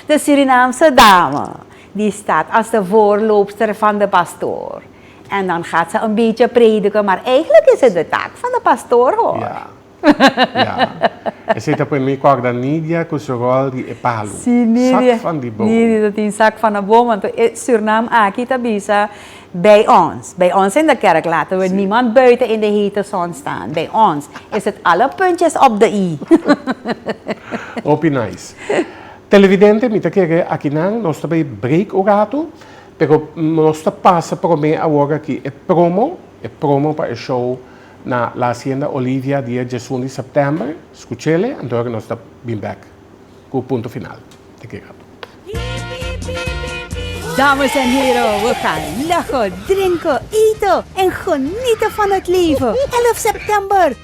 De Surinaamse dame, di stad as de voorloopster van de pastoor. En dan gaat ze een beetje prediken, maar eigenlijk is het de taak van de pastoor hoor. Ja. Ja. Esei ta por mi corda Nidia cu su rol di e palu. Si Nidia. Zak van die boom. Nidia ta tin zak van een boom, want e surnaam aki ta bisa bij ons. Bij ons in de kerk laten we niemand buiten in de hete zon staan. Bij ons is het alle puntjes op de i. Hopi nice. Televidente mi ta kere akinan nos ta bay break un rato. Pero nos ta pasa prome awor aki e promo, e promo pa e show na La Hacienda Olivia dia diesun di September, skuchele anto horan nos ta bin bek ku punto final te ke rato. Dames en hero, we gan laho, drenko, eato en gonito van het leven, 11 September!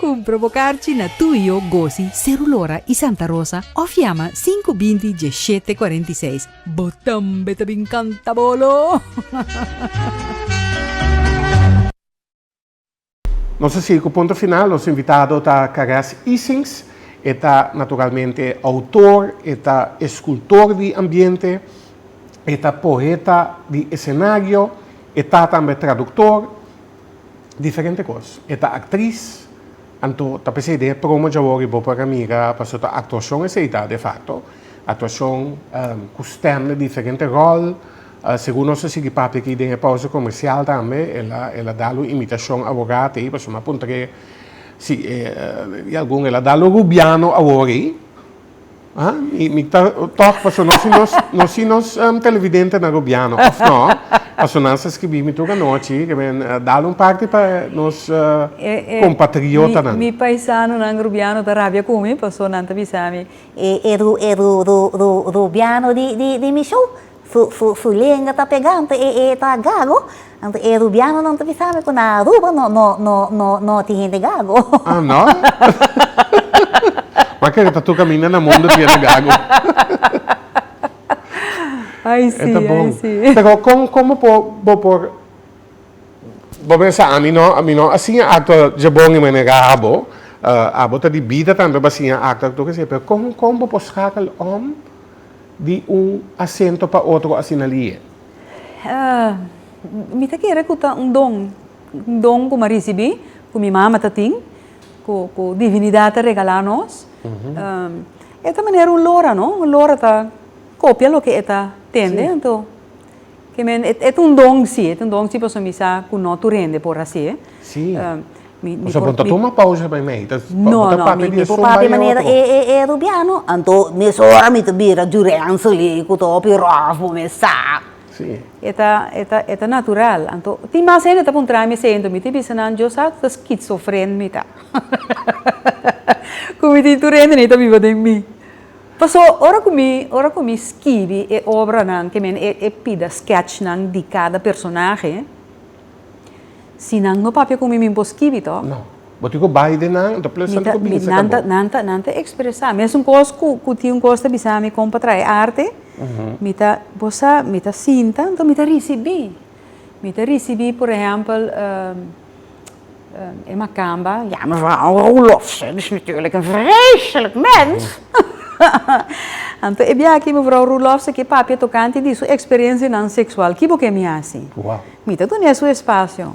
Cumpra bo carchi na Tuyo, Gosi, Cerulora y Santa Rosa of yama sinku binti dieshete cuarenta y seis. Bo tambe ta bin canta bolo! Nos a sigui cu Punto Final. Nos invitado ta Caresse Isings. E ta naturalmente autor, e ta escultor di ambiente, e ta poeta di escenario, e ta tambe traductor, Diferente kos. E ta aktris, anto ta p'esei den e promo dja wòrdu bo por a mira paso ta aktuashon esei ta de fakto. Aktuashon ku stèm na diferente ròl. Segun nos a sigui papia aki den e pòusa komersial tambe, el a da lo imitashon awora te, paso m'apunta ke si e algun el a da lo rubiano awor ei. Ha? Mi, mi ta, toch, paso no si nos, no si nos um, televidente na gobierno, of no? Paso nan sa escribi mi toca nochi, que men, uh, dal un parte pa nos uh, eh, eh, compatriota nan. Mi, mi paisano nan rubiano ta rabia cu mi, paso nan ta bisa mi, e, e, ru, e, ru, ru, ru, rubiano di, di, di mi show, Su lenga ta pega, anto e ta gago. Anto e rubianonan ta bisa mi ku na Aruba no tin hende gago. Ah no? M'a kere ta tur kaminda na mundu ku ya ta gago. Ai si, ai si. E ta bon. Pero kon kon bo por bo por bo pensa ami no ami no a siña akto dje bon di manera abo abo ta di bida tambe pa siña akto akto kesio pero kon kon bo por skakel om? di un asento pa otro asina li'e? Mi ta kere ku ta un don, un don ku mi a risibí, ku mi mama ta tin, ku divinidat a regalá nos. E ta manera un lora no, un lora ta kopia loke e ta tende, anto. Ke men, e t'un don si, e t'un don si paso mi sa ku no tur hende por hasié. Si. Mi, mi por. Paso bo ta tuma pausa primé, i ta, bo ta papia di e son bai e otro. E, e, e Rubiano, anto mesora mi ta bira Jurenzo li ku ta hopi rof bo mes sa. Si. E ta, e ta, e ta natural. Anto, tin mas hende ta puntrami esei, anto mi ta bisa nan, yo sa ta skitsofren mi ta. Ku mi tin tur hende nei ta biba den mi. Paso, ora ku mi, ora ku mi skibi e obranan, ke men, e pida skèchnan di kada personahe, si nan no papia ku mi, mi por skibi tò? No. Bo tin ku bai den nan, anto ples anto ku bini saka bo. Nan ta, nan ta, nan ta ekspresá. Mes un kos ku, ku tin un kos ta bisa mi kon pa trae arte, mi ta, bo sa, mi ta sinta, anto mi ta risibí. Mi ta risibí, por ehèmpel. E makamba, ya mevrouw Roelof ze is natuurlijk een vreselijk mens! Anto e bia aki mevrouw Roelof ze ke papia tokante di su experiencianan sexual, ki bo ke mi haci? Mi ta dun'é su espacio.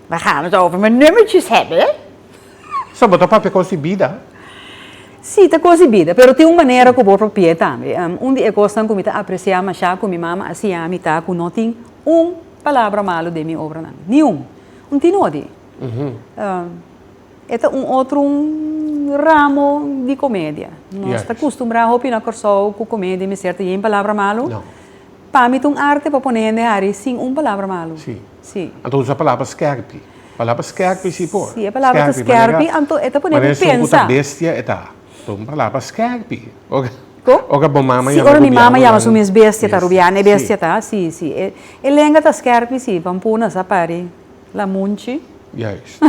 We gaan het over mijn nummertjes hebben. So bo ta papia kos di bida? Sí, ta kos di bida, pero tin un manera ku bo propi'é tambe. Un di e kosnan ku mi ta aprecia masha ku mi mama a hacia mi ta ku no tin un palabra malu den mi obranan, ni un. Un tino di. E ta un otro ramo di comedia. Nos ta custumbrá hopi na Corsou cu comedia mester ta yen palabra malu. Pa mi ta un arte pa pone hende hari sin un palabra malu. Si. Anto usa palabra skerpi. Palabra skerpi si por. Si e palabra ta skerpi anto e ta pone bo pensa. Manera esei cu ta bestia e ta. Por un palabra skerpi. Oca bo mama yama rubiano. Si ora mi mama yama su mes bestia ta rubiano, e bestia ta. Si, si. E lenga ta skerpi, si, pa un puna sa pa di la munchi. Juist.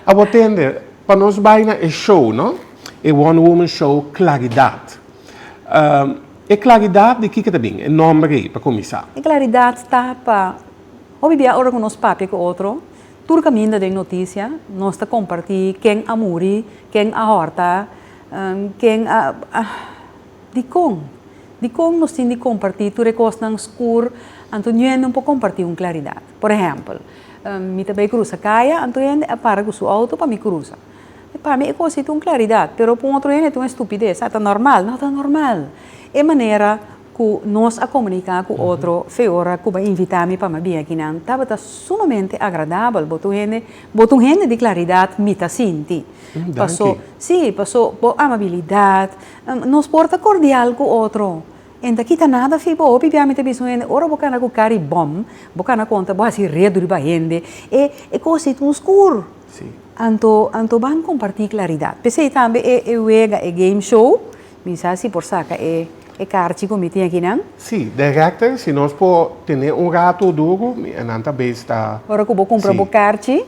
A bo tende, pa nos bai na e show, no? E Wonder Woman show Klaridat. E klaridat di kiko ta bin? E nomber ei, pa kuminsá. E klaridat ta pa, hopi bia ora ku nos papia ku otro. Tur kaminda den notisia nos ta kompartí ken a muri, ken a hòrta, ken a. Dikon? Dikon nos tin di kompartí tur e kosnan skur anto nuhende un por kompartí un klaridat? Por ehèmpel, mi ta bai krusa kaya, anto hende a para ku su outo pa mi krusa. Pa mi e kos ei ta un klaridat, pero pa un otro hende ta un estupides. A ta normal? No ta normal! E manera Ku nos a komuniká ku otro fe ora ku bo invitá mi pa mi bia akinan tabata sumamente agradabel. Bo ta un hende, bo ta un hende di klaridat, mi ta sinti. Paso, sí, paso bo amabilidat, nos por ta kordial ku otro i n'ta kita nada fi bo. Hopi bia mi ta bisa un hende ora bo kana ku kari bòm, bo kana konta bo hasi redu riba hende, e e kos di tun skur. Anto, anto ban kompartí klaridat. P'esei tambe e e wega, e game show. Mi sa si por saca e e karchi cu mi tin aki nan? Si, directen, si nos por tene un rato o duru, mi e nan ta bez ta. Ora cu bo cumpra bo karchi,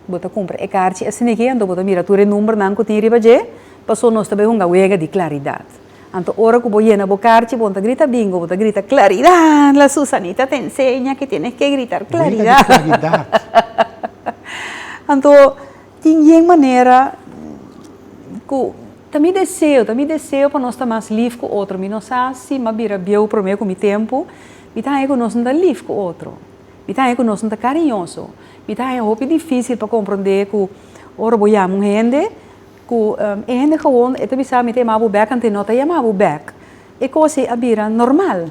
bo ta cumpra e karchi asina aki, anto bo ta mira tur e numbernan cu tin riba dje, paso nos ta bay hunga wega di claridad. Anto ora cu bo yena bo karchi, bo no ta grita bingo, bo ta grita claridad, la Susanita ta enseña que tienes que gritar claridad. Wega di claridad. Anto. Tin yen manera ku ta mi deseo, ta mi deseo pa nos ta mas lif ku otro. Mi no sa si mi a bira bieu promé ku mi tempu, mi ta haña ku nos no ta lif ku otro. Mi ta haña ku nos no ta kariñoso. Mi ta haña hopi difísil pa komprondé ku ora bo yama un hende, ku e hende gewon e ta bisa mi ta yama bo bèk anto e no ta yama bo bèk. E kos ei a bira normal.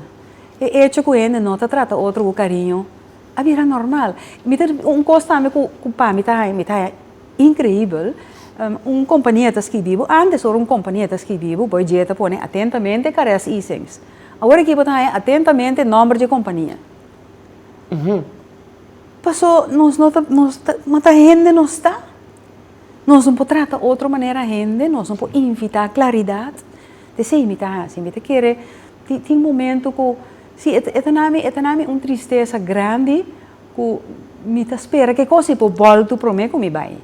E echo ku hende no ta trata otro ku kariño. a bira normal. Mi ta, un kos tambe ku pa mi ta mi ta inkreibel, un kompania ta skirbi bo, antes ora un kompania ta skirbi bo, bo e dje ta pone atentamente Caress Easings. Awor aki bo ta haña atentamente nòmber dje kompania. Pasó nos no ta, nos ta, ma ta hende nos ta. Nos no por trata otro manera hende, nos no por invitá klaridat. T esei mi ta hasi, mi ta kere tin tin momento ku Sí, e ta na mi, e ta na mi un tristesa grandi ku mi ta spera ke kos i por bòl tur promé ku mi bai.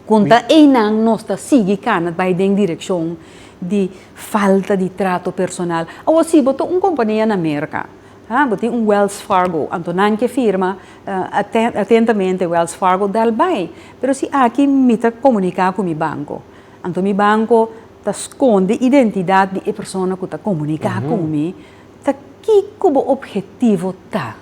Konta einan nos ta sigui kana bai den direkshon di falta di trato personal. Awor si bo ta un kompania na Merka, ha, bo tin un Wells Fargo, anto nan ke firma atentamente Wells Fargo, dal bai. Pero si aki mi ta komuniká ku mi banko. Anto mi banco ta sconde identidad di e persona cu ta comunica con mi, ta kico bo objetivo ta?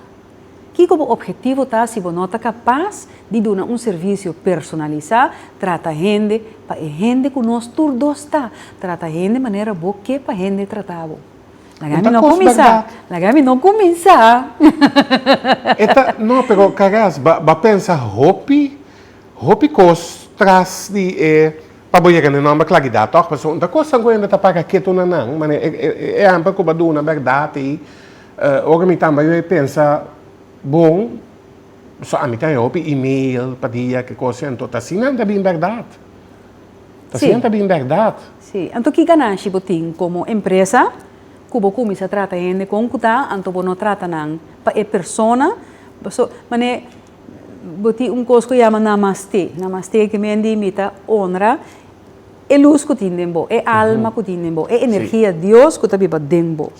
Kico bo objetivo ta si bo no ta capaz di duna un servicio personalisa, trata hende pa e hende cu nos tur dos ta, trata hende manera bo ke pa hende trata bo? Laga mi no cuminsa, laga mi no cuminsa. E ta, no pero Carras, bo a pensa hopi? Hopi kos tras di e pa bo yega na e nòmber klagidad tòg pasobra un ta kos ta gohenda ta para ketu na nan manera e ehèmpel ku bo a duna bèrdad ei ora mi tambe a pensa bon so ami ta hen hopi email pa dia ki kosnan anto ta asinan ta bin bèrdad ta asinan ta bin bèrdad. Si anto ki ganashi bo tin komo empresa ku bo kuminsha trata hende kon ku ta anto bo no trata nan pa e persona paso manera Bo tin un kos ku yama Namastê. Namastê ke mi a indi'e mi ta honra e lus ku tin den bo, e alma ku tin den bo, e energia Dios ku ta biba den bo.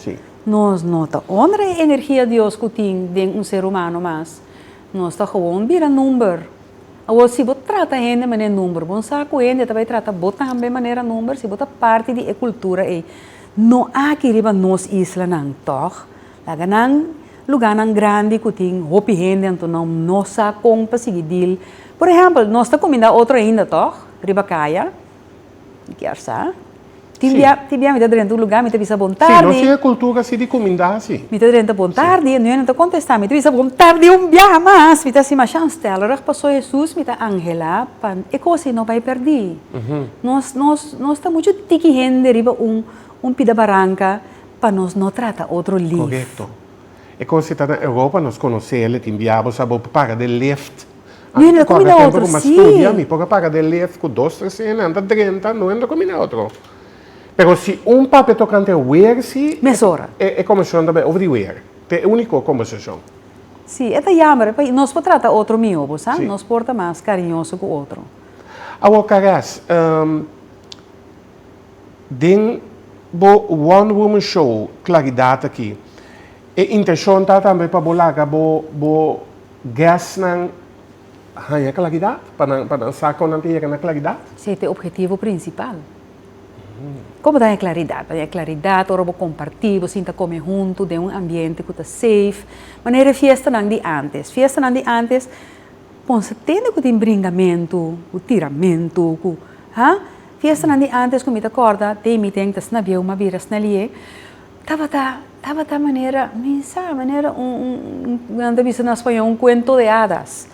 Nos no ta honra e energia Dios ku tin den un ser humano mas. Nos ta gewoon bira number. Awor si bo trata hende manera number, bon sa ku hende ta bai trata bo tambe manera number si bo ta parti di e kultura ei. No aki riba nos islanan, tòg? Laga nan lugánan grandi ku tin hopi hende anto nan no sa kon pa sigui dil. Por ehèmpel, nos ta kumindá otro ainda, tòg? Riba kaya. Mi kier sa. Tin Si. bia, tin bia mi ta drenta un lugá, mi ta bisa bon tardi. Si, nos tin e kultura si di kumindá si. Mi ta drenta bon tardi, e nuene ta kontestá, mi ta bisa bon tardi un biaha mas. Mi ta hasi masha anstèlereg, pasó Hesus mi ta anhelá pa e kos ei no bai pèrdí. Nos, nos, nos ta muchu tiki hende riba un, un pida baranka. Pa nos no trata otro lief. Korekto. E kos si ta na Europa nos konosé el, e tin diabo sa bo paga den lift. Anto ta kòrda tempu ku mas studia mi por a paga den lift ku dos tres hende anta drenta no hende kominé otro. Pero si un papia tokante wer si Mesora. e komishon ta bay over di wer. Ta e úniko kombersashon. Sí, e ta yamber pasobra nos por trata otro mihó bo sa, nos por ta mas kariñoso ku otro. Awor Carras, Den bo One Woman Show Claridad aki, e intencion ta tambe pa bo laga bo bo guest nan haña claridad, pa nan pa nan sa con nan ta yega na claridad. Si esta e objetivo principal. Como ta haña claridad? Ta haña claridad ora bo comparti, bo sinta come hunto den un ambiente cu ta safe. Manera e fiestanan di antes. Fiestanan di antes pon sa tende cu tin bringamento, cu tiramento, cu ha. Fiestanan di antes ku mi ta kòrda te mi den ta snabieu ma bira snalié tabata tabata manera mi sa manera un nan ta bisa na spañó un kuento de adas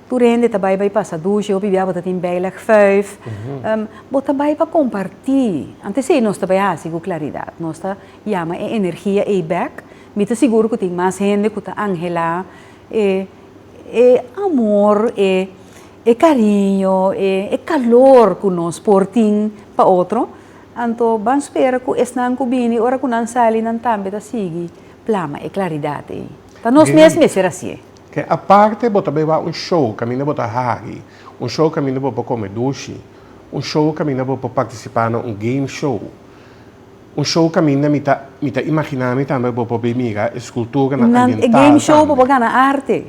tur hende ta bai bai pasa dushi hopi biaha bo ta tin beilig fuif bo ta bai pa kompartí antes ei nos ta bai hasi ku klaridat nos ta yama e energia ei bèk mi ta sigur ku tin mas hende ku ta anhelá e amor e E cariño, e calor cu nos por tin pa otro, anto ban spera cu esnan cu bini ora cu nan sali nan tambe ta sigui plama e claridad ey. Ta nos mes mester hacié. Ke aparte bo ta bay wak un show caminda bo ta hagi, un show caminda bo por come dushi, un show caminda bo por participa na un game show, un show caminda mi ta mi ta imaginami tambe bo por bay mira escultura nan ambiental tambe. Nan e game show bo por gana arte,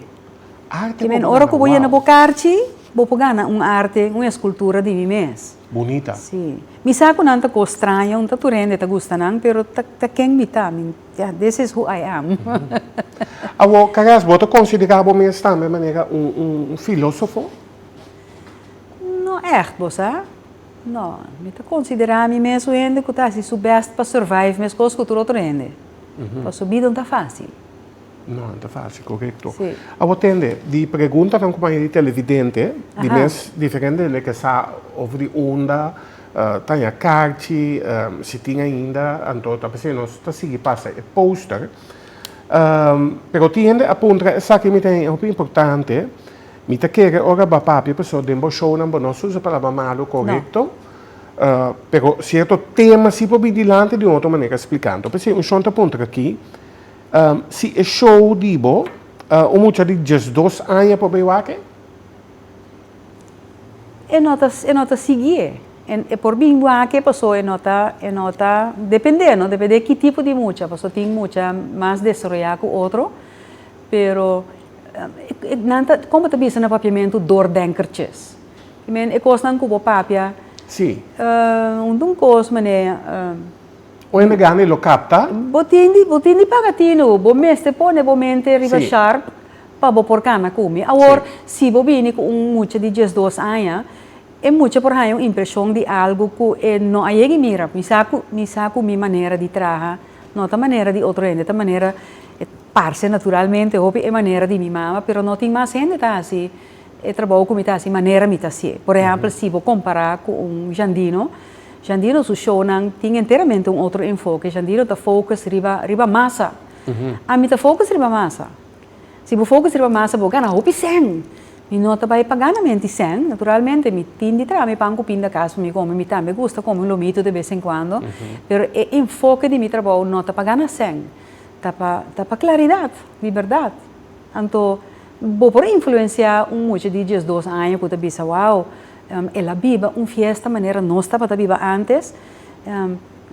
Arte como gana Ora cu bo yena bo carchi, bo por gana un arte, un escultura di mi mes. Bunita. Sí. Mi sa cu nan ta cos straño, no ta tur hende ta gusta nan, pero ta, ta ken mi ta. Mi, yeah, this is who I am. Awor, Carras, bo ta considera bo mes tambe manera un, un, un filosofo? No echt, bo sa. No. Mi ta considera mi mes un hende cu ta haci su best pa survive mescos cu tur otro hende. Pasobra bida no ta facil. No, no ta fácil, correcto. Sí. A vos tende, di pregunta tan como de televidente, de mes diferente de que sa over de onda, uh, tanya carchi, um, si tin ainda, anto ta pensé, nos ta sigui pasa e poster. Um, pero tiende a puntra, esa que mi ten e hopi importante, mi ta kere ora ba papia peso den bo show nan bo no susa palabra malo, correcto? No. Uh, pero cierto tema si po bi dilante de un otro manera explicando. Pensé, un shon ta puntra aquí, Si e show di bo, un mucha di diesdos aña por bay wak e? E no ta e no ta sigui e. E por bin wak e paso e no ta e no ta depende no, depende ki tipo di mucha, paso tin mucha mas desaroya cu otro, pero nan ta como ta bisa na papiamento doordenkertjes. I mean e cosnan cu bo papia un cos mane. Oende gana e lo kapta? Bo tin di bo tin di paga tinu. Bo mester pone bo mente riba Sí. sharp pa bo por kana ku mi. Awor, Sí. si bo bini ku un mucha di diesdos aña, e mucha por haña un impreshon di algu ku e no a yegi mira. Mi sa ku mi sa ku mi manera di traha no ta manera di otro hende, ta manera, e parse naturalmente hopi e manera di mi mama, pero no tin mas hende ta hasi E trabou ku mi ta hasi, manera mi ta hasié. Por ehèmpel, si bo kompará ku un Jandino, Jandino su shownan tin enteramente un otro enfoke. Jandino ta focus riba, riba masa. Ami ta focus riba masa. Si bo focus riba masa, bo gana hopi sèn. Mi no ta bai pa gana menti sèn. Naturalmente, mi tin di traha mi pan ku pinda kas pa mi kome. Mi tambe gusta kome un lomito de bes en kuando. Pero e enfoke di mi trabou no ta pa gana sèn. Ta pa, ta pa klaridat di bèrdat. Anto, bo por influenciá un mucha di diesdos aña cu ta bisa, Wao, el a biba un fiesta manera nos tabata biba antes.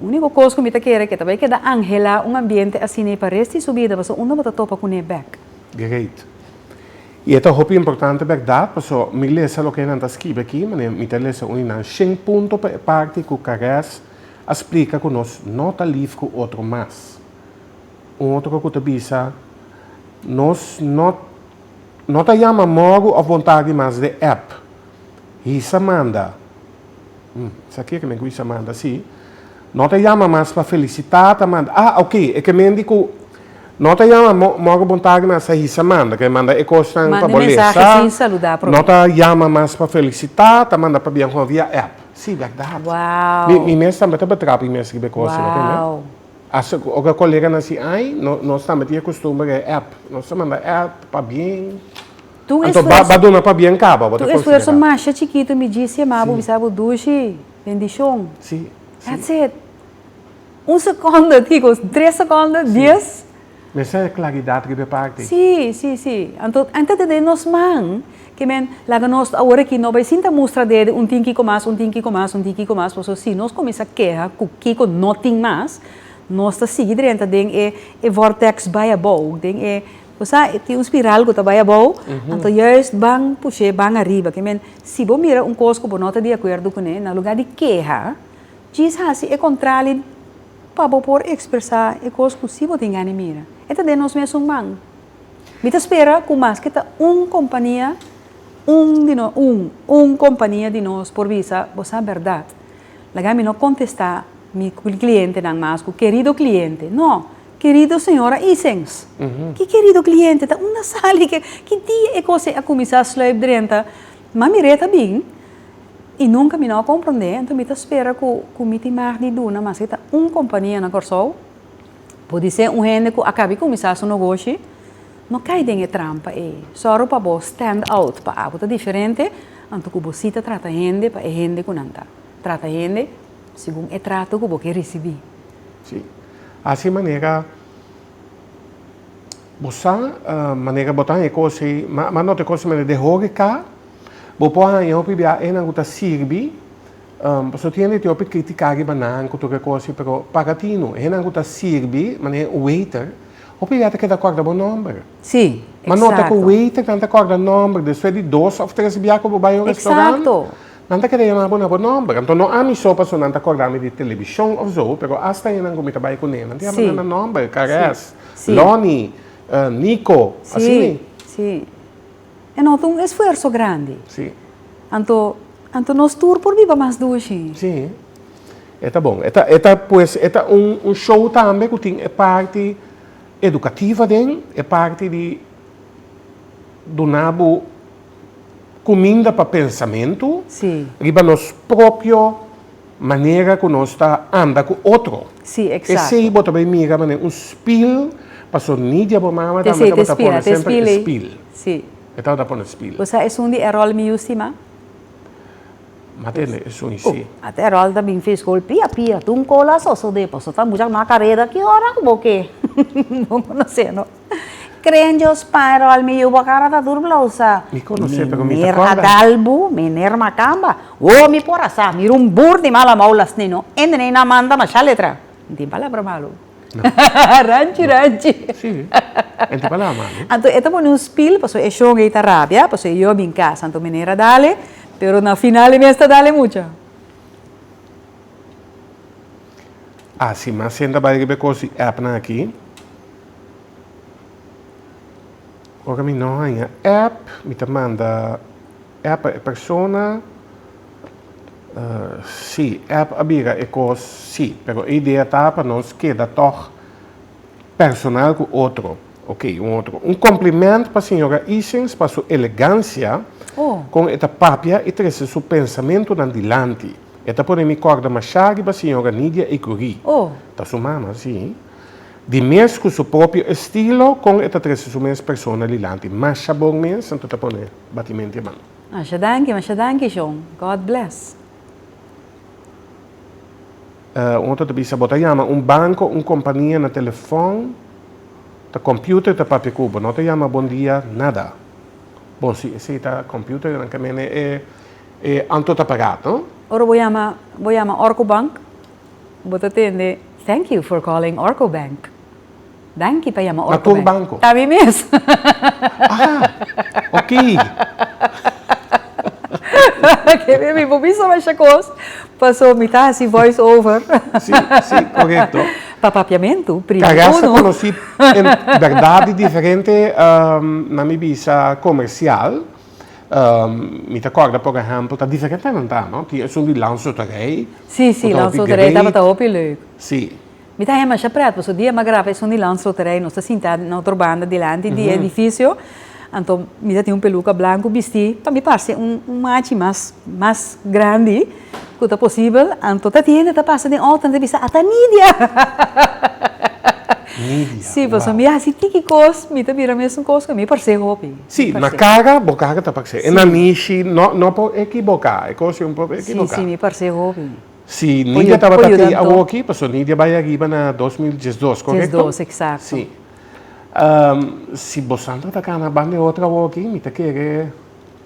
Único cos cu mi ta kere, ke ta bai keda anhelá un ambiente asina pa res di su bida, pasobra un no bo ta topa cun'é bek. Great. I e ta hopi importante berdad, paso mi lesa loke nan ta skibi aki, ma mi ta lesa uni nan shen punto pa e parti cu Caress a splica cu nos no ta lief cu otro mas. Un otro ku ta bisa, Nos no no ta yama mogu òf bontadi mas den app. Hisa manda. Hm, esaki ke men ku hisa manda si. No ta yama mas pa felisitá, ta manda. Ah, oke, e ke men di ku no ta yama mogu bontadi mas ta hisa manda, ke manda e kosnan pa bo lesa. No ta yama mas pa felisitá, ta manda pa biankon via app. Si, bèrdat. Mi mes tambe ta betrapa mi mes riba e kosnan. Hasta cu oca coleganan si ay, no, nos tambe tin e costumbre den app. Nos ta manda app, pabien. Ta un Anto ba, esfuerzo, ba duna pabien caba, bo ta ta un esfuerzo considera. masha chikitu mi djis yama bo Si. bisa bo dushi, bendicion. Si, si. That's it. Un secondo, Kiko, tres secondo, dies. Men sa e klaridat riba e parti. Sí, sí, sí. Anto, a enta tende nos man ke men laga nos awor aki no bai sinta mustra dede un tinkico mas, un tinkico mas, un tinkico mas, paso si nos cominsa keha cu kico no tin mas, nos ta sigui drenta den e e vortex bai abou, den e, bo sa e tin un spiral cu ta bai abou, anto juist ban push'é ban ariba, ke men si bo mira un cos cu bo no ta di acuerdo cune, na lugar di keha, djis haci e contrali. Pa bo por ekspresá e kos ku si bo tin gana di mira. E ta den nos mes un man. Mi ta spera ku maske ta un kompania, un di nos, un, un kompania di nos por bisa bo sa bèrdat. Laga mi no kontestá mi klientenan mas ku kerido kliente. No! Kerido señora Isens! Ki kerido kliente? Ta unda sali? Ki dia e kos ei a kuminsá sluip drenta? Mami Reta bin I nunka mi no a komprond'é, anto mi ta spera ku mi tin mag di duna, maske ta un kompania na Kòrsou, podisé un hende ku a kabi kuminsá su nogoshi, no kai den e trampa ei. Sòru pa bo stand out, pa abo ta diferente, anto ku bo si ta trata hende pa e hende ku nan ta trata hende, segun e trato ku bo ke risibí. Sí. Hasi manera bo sa, manera bo ta haña kos ei, ma no ta kos manera. Den horeká Bo por haña hopi biaha enan ku ta sirbi, pasobra tin hende tin hopi kritiká riba nan ku tur e kosnan, pero para tino, enan ku ta sirbi manera un weiter, hopi biaha ta keda kòrda bo nòmber. Sí, eksakto. Ma nota ku weiternan ta kòrda nòmber despues di dos òf tres biaha ku bo bai un restaurant. Eksakto. Nan ta keda yama bo na bo nòmber. Anto no ami so, pasobra nan ta kòrda mi di televishon òf so, pero asta enan ku mi ta bai kuné, nan ta yama nan na nòmber, Caress, Lonnie, Nico, asina. Sí, sí. E no ta un esfuerso grandi. Sí. Anto, anto nos tur por biba mas due shin. Sí. E ta bon. E ta, e ta pues, e ta un, un show tambe ku tin e parti edukativo aden, e parti di duna bo kuminda pa pensamentu. Sí. Riba nos propio. Manera ku nos ta anda ku otro. Sí, eksakto. Esei bo ta bay mira manera un spil, paso ni dje bo mama tambe T'esei, tabata t'e spil, pone a t'e semper spil ei. spil. Sí. E tabata pone spil. Bo sa esun di e ròl mi yu stima? M'a tende, esun i sí. Oh, at e ròl ta bin fis gol pia pia, tun kola a sosodé, paso ta mucha mas kareda. Ki ora ku bo ke? Bo konosé, no? Krenjo Spinrol, mi yu bo kara ta dur blou sa. Mi konos'é pero mi ta korda. Meneer Adalbu, meneer Makamba, wo mi por a sa, mi rumbur di mala mou las nino, ende nei nan manda masha letra. No tin palabra malu. Ranchi ranchi. Sí, no tin palabra malu. Anto e ta pone un spil paso e shon ei ta rabia, paso e yu a bin kas. Anto meneer a dale, pero na final e mes ta dale mucha. Asi mas senta bai riba e kosi, app nan aki. Ora mi no haña app, mi ta manda app pa e persona, si, app a bira e kos si, pero e idea ta pa nos keda tòg personal ku otro. Oke, un otro. Un komplemènt pa señora Isings pa su elegansia kon e ta papia i trese su pensamentunan dilanti. E ta pone mi kòrda mashá riba señora Nidia Ecurie. Ta su mama, sí. di mes cu su propio estilo con e ta trece su mes persona dilanti. Masha bon mes, anto ta pone batimenti eman. Masha danki, masha danki John. God bless. Un otro ta bisa, Bo ta yama un banco, un compania na telefon, ta computer ta papia cu bo, no ta yama bon dia, nada. Bon, si esey ta computer, nan camene e anto ta paga, no? Ora bo yama, bo yama or cu bank, Bo ta tende, Thank you for calling Orco Bank. Danki pa yama Orco Bank. Na tur banko? Ta mi mes. Aha! Oké. Kende mi bo bisa masha kos, paso mi ta hasi voice over. Si, si, korekto. Pa papiamentu, primi uno. Karas a konosí el bèrdat di diferente, nan mi bisa, komersial. Ehm, mi ta corda por ejemplo, ta diferente nan ta, no? Ti esun di lansoterij. Si, si, lansoterij taba ta hopi leuk. Si. Mi ta hema sha pret, paso dia ma graba esun di lansoterij, nos ta sinta na otro banda dilanti di edificio, anto mi ta tin un peluca blanco bisti, pa mi parse un, un machi mas, mas grandi. Cu ta posibel, anto ta tiende ta pasa den otro entrevista ata Nidia! Nidia, wow! Si, pasobra mi hasi tiki cos, mi ta bira mesun cos cu mi parse hopi. Si, na caga, bo caga ta parse. E na nishi, no, no por equiboca. E cos yo no por equiboca. Si, si, mi parse hopi. Si Nidia tabata aki awoki, pasobra Nidia bai ariba na dos mil diesdos, correcto? Diesdos, exacto. Si. Si bo Sandra ta cana banda e otro awoki, mi ta kere.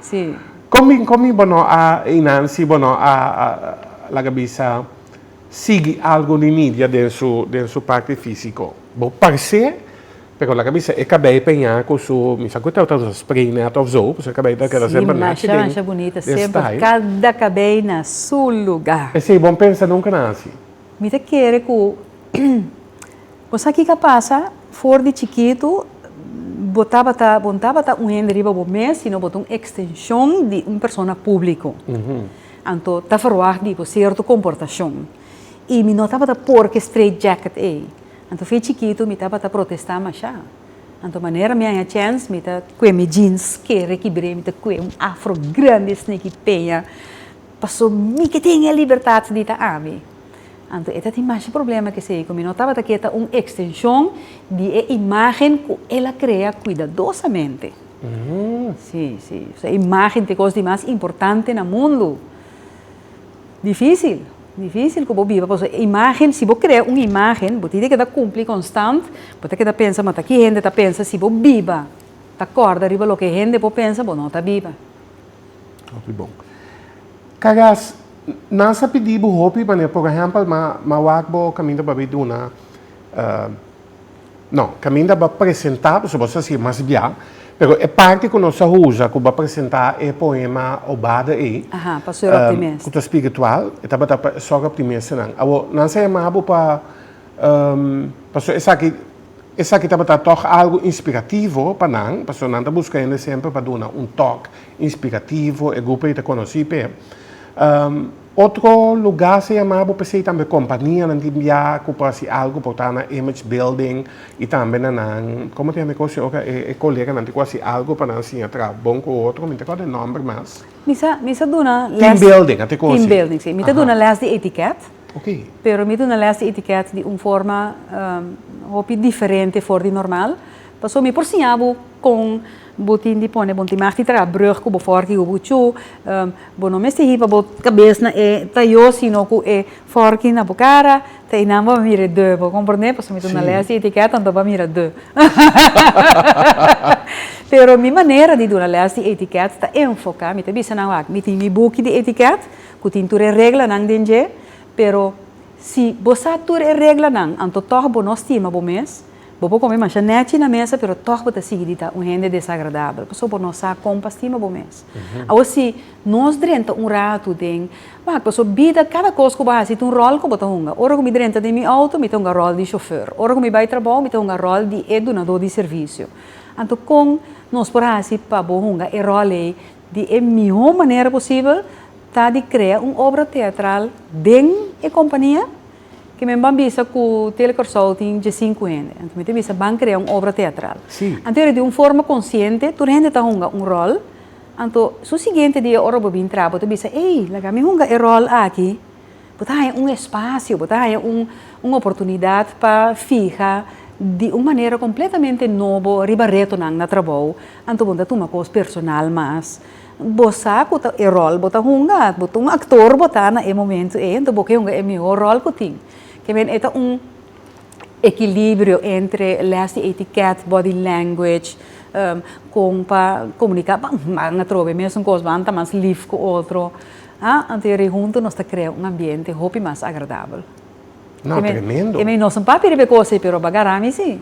Sí. Kon mi kon mi bono a einan si bono a laga bisa sigui algo di Nidia den su den su parti físiko. Bo parsé pero laga bisa e kabei peñá ku su mi sa ku e tabata usa spray nèt òf zo pasobra e kabei ta keda semper nachi den den style. Sí, masha masha bunita semper kada kabei na su luga. Esei bon pensa nunka na hasi. Mi ta kere ku bo sa kiko a pasa, for di chikitu bo tabata, bo no tabata un hende riba bo mes, sino bo ta un ekstenshon di un persona públiko. Anto ta ferwagt di bo sierto komportashon. I mi no tabata por ku e straight jacket ei. Anto fin chikitu mi tabata protestá mashá. Anto manera mi a haña chèns, mi ta kue mi jeans kere kibr'é, mi ta kue un afro grandi, sniki peña. Paso mi ke tin e libertat di ta ami. Anto e ta tin masha problema kesei ku mi no tabata ke ta un ekstenshon di e imagen ku el a krea kuidadosamente. Si, si. Ohsea, imagen ta e kos di mas importante na mundu. Difisil, difisil ku bo biba paso e imagen, si bo krea un imagen, bo tin di keda kumpli konstant, bo ta keda pensa mata ki hende ta pensa si bo biba ta kòrda riba loke hende por pensa, bo no ta biba. Hopi bon. Kagas, nan sa pidi bo hopi manera, por ehempel, ma, ma wak bo kaminda bo a bay duna, uh, no, kaminda bo a presenta, pasobra bo sa sigue mas bia, pero e parti ku nos a usa ku bo a presenta e poema Obada ei, Aha, pa Sor Optimist. um, ku ta spiritual, e tabata pa Sor Optimist nan. Awor, nan sa yama bo pa. Pasobra esaki, esaki tabata tòg algu inspirativo pa nan, pasobra nan ta buska hende semper pa duna un tòg inspirativo, e grupo ei ta konosí p'e. Otro lugá sa yamá bo p'esei tambe kompanianan tin biá ku por hasi algu, por traha na image building i tambe na nan, komo ta yama e kos ei ora? E koleganan tin ku hasi algu pa nan siña traha bon ku otro, mi no ta akorda e nòmber mas. Mi sa, mi sa duna lès. Team building, ate kos ei. Team building, si. Mi ta duna lès di etikèt. Oké. Pero mi duna lès di etiket di un forma hopi diferente for di normal. Paso mi por siña bo kon bo tin di pone bon tin mas di traha brùg ku bo for di hopi ku chu. Bo no mester hiba bo kabes na e tayo sino ku e forki na bo kara, te einan bo a mira e deu. Bo komprondé? Paso mi duna lès di etiket anto bo a mira deu. Pero mi manera di duna lès di etiket ta enfoká, mi ta bisa nan wak, mi tin mi buki di etiket. ku tin tur e reglanan den dje, pero si bo sa tur e reglanan anto tòg bo no stima bo mes, bo por kome masha nèchi na mesa pero tòg bo ta sigui di ta un hende desagradabel pasobra bo no sa kon pa stima bo mes. Awor si nos drenta un ratu den wak pasobra bida kada kos ku bo hasi ta un ròl ku bo ta hunga. Ora ku mi drenta den mi outo mi ta hunga ròl di shofèr, ora ku mi bai trabou mi ta hunga ròl di e dunadó di servisio. Anto kon nos por hasi pa bo hunga e ròl ei Di e mihó manera posibel ta di krea un obra teatral den e kompania, ke men ban bisa ku Tele Kòrsou tin diesinku hende. Anto mi ta bisa ban krea un obra teatral. Anto yori di un forma konsiente tur hende ta hunga un ròl, anto su siguiente dia ora bo bin tra bo ta bisa, ey, laga mi hunga e ròl aki. Bo ta haña un espasio, bo ta haña un oportunidat pa fiha di un manera kompletamente nobo riba retonan na trabou, anto bo no ta tuma kos personal mas. Bo sa ku e ròl bo ta hunga, bo ta un aktor bo ta na e momentu ei, anto bo ke hunga e mihó ròl ku tin. Ke men e ta un ekilibrio entre lès di etikèt, bòdi lèngwech, kon pa komuniká, b'an atrobe, mesun kos b'an ta mas lif ku otro. Ha, anto e rei huntu nos ta krea un ambiente hopi mas agradabel. No, Keme, tremendo. keme nos un papi riba e kos ei, pero bagara mi si.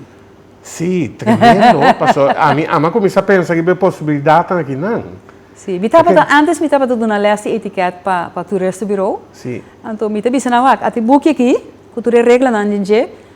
Sí, tremendo. Paso ami ama kuminsá pensa riba e posibilidatnan akinan. Sí, mi tabata, Paken- antes mi tabata duna les di etiket pa pa Toeristenbureau. Sí. Anto mi ta bisa nan, wak, ata e buki aki, ku tur e reglanan den dje,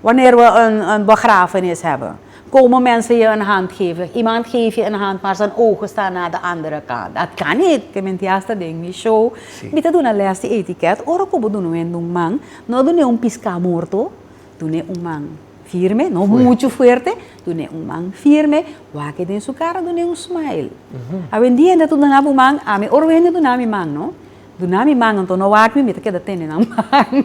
Wanneer we een een begrafenis hebben, komen mensen je een hand geven. Iemand geeft je een hand, maar zijn ogen staan naar de andere kant. Dat kan niet! Te menti hasta den mi show. Mi ta duna les di etiquette. Ora cu bo duna wende un man, no dun'é un piscá morto, dun'é un man firme, no mucho fuerte, dun'é un man firme, wak-e den su cara, dun'é un smile. Awendia hende ta duna bo man, ami ora wende duna mi man, no? Duna mi man, enton no wak mi, mi ta keda tene nan man.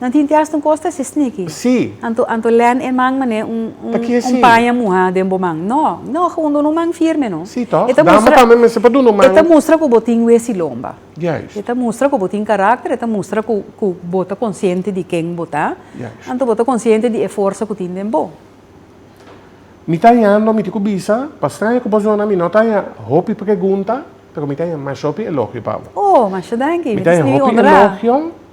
Nan tin tias tun cos ta si sneaky. Sí. Anto anto land e man mane un un Taki así. un paña muha den bo man. No, no hundo un man firme no. Sí toch? E ta Dama mustra tambe mester pa dunu e ta man. mustra cu bo tin wesi lomba. Juist. E ta mustra cu bo tin karakter, e ta mustra cu cu bo ta consciente di ken bo ta. Juist. Anto bo ta consciente di e forsa cu tin den bo. Mi ta ayando mi tin cu bisa, pa straña cu bo zona mi no ta aya hopi pregunta, pero mi ta aya masha hopi elogio pa bo. Oh, masha danki. Mi Mi ta ta aya scribi hopi honra. elogio.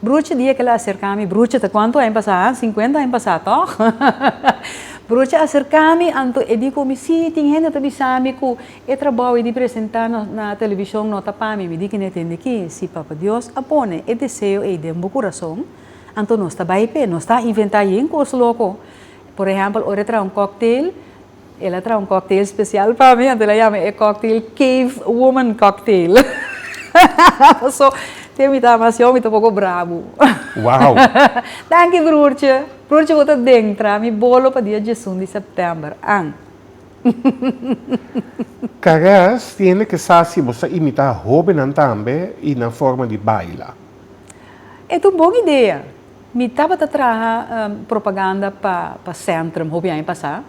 Brucha di ekela aserkami, brucha ta kuantu aña pasá? Sinkuenta aña pasá tòg? Brucha aserkami anto e di ku mi, sí, tin hende ta bisami ku e trabou ei di presentá na televishon no ta pa mi. Mi di ku n'e tende ki, si Papa Dios a pone e deseo ei den bo kurason, anto nos ta bai p'e. Nos ta a inventá yen kos loko. Por ehèmpel, ora e traha un kòktel. El a traha un cocktail special pa mi, anto el a yama e cocktail Cave Woman Cocktail. Paso, te mi ta ama así, mi ta un poco brabo. Wow! Danki broertje. Broertje bo ta den traha mi bolo pa dia diesun di september, an? Caress tiene que sa si bo sa imita hobennan tambe y nan forma di baila. E ta un bon idea. Mi tabata traha propaganda pa Centrum hopi aña pasá.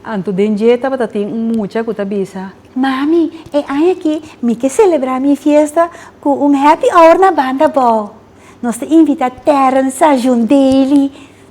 Anto den dje tabata tin un mucha ku ta bisa, Mami, e aña aki mi ke selebrá mi fiesta ku un happy hour na banda abou. Nos ta invitá Terrence sa John Daly.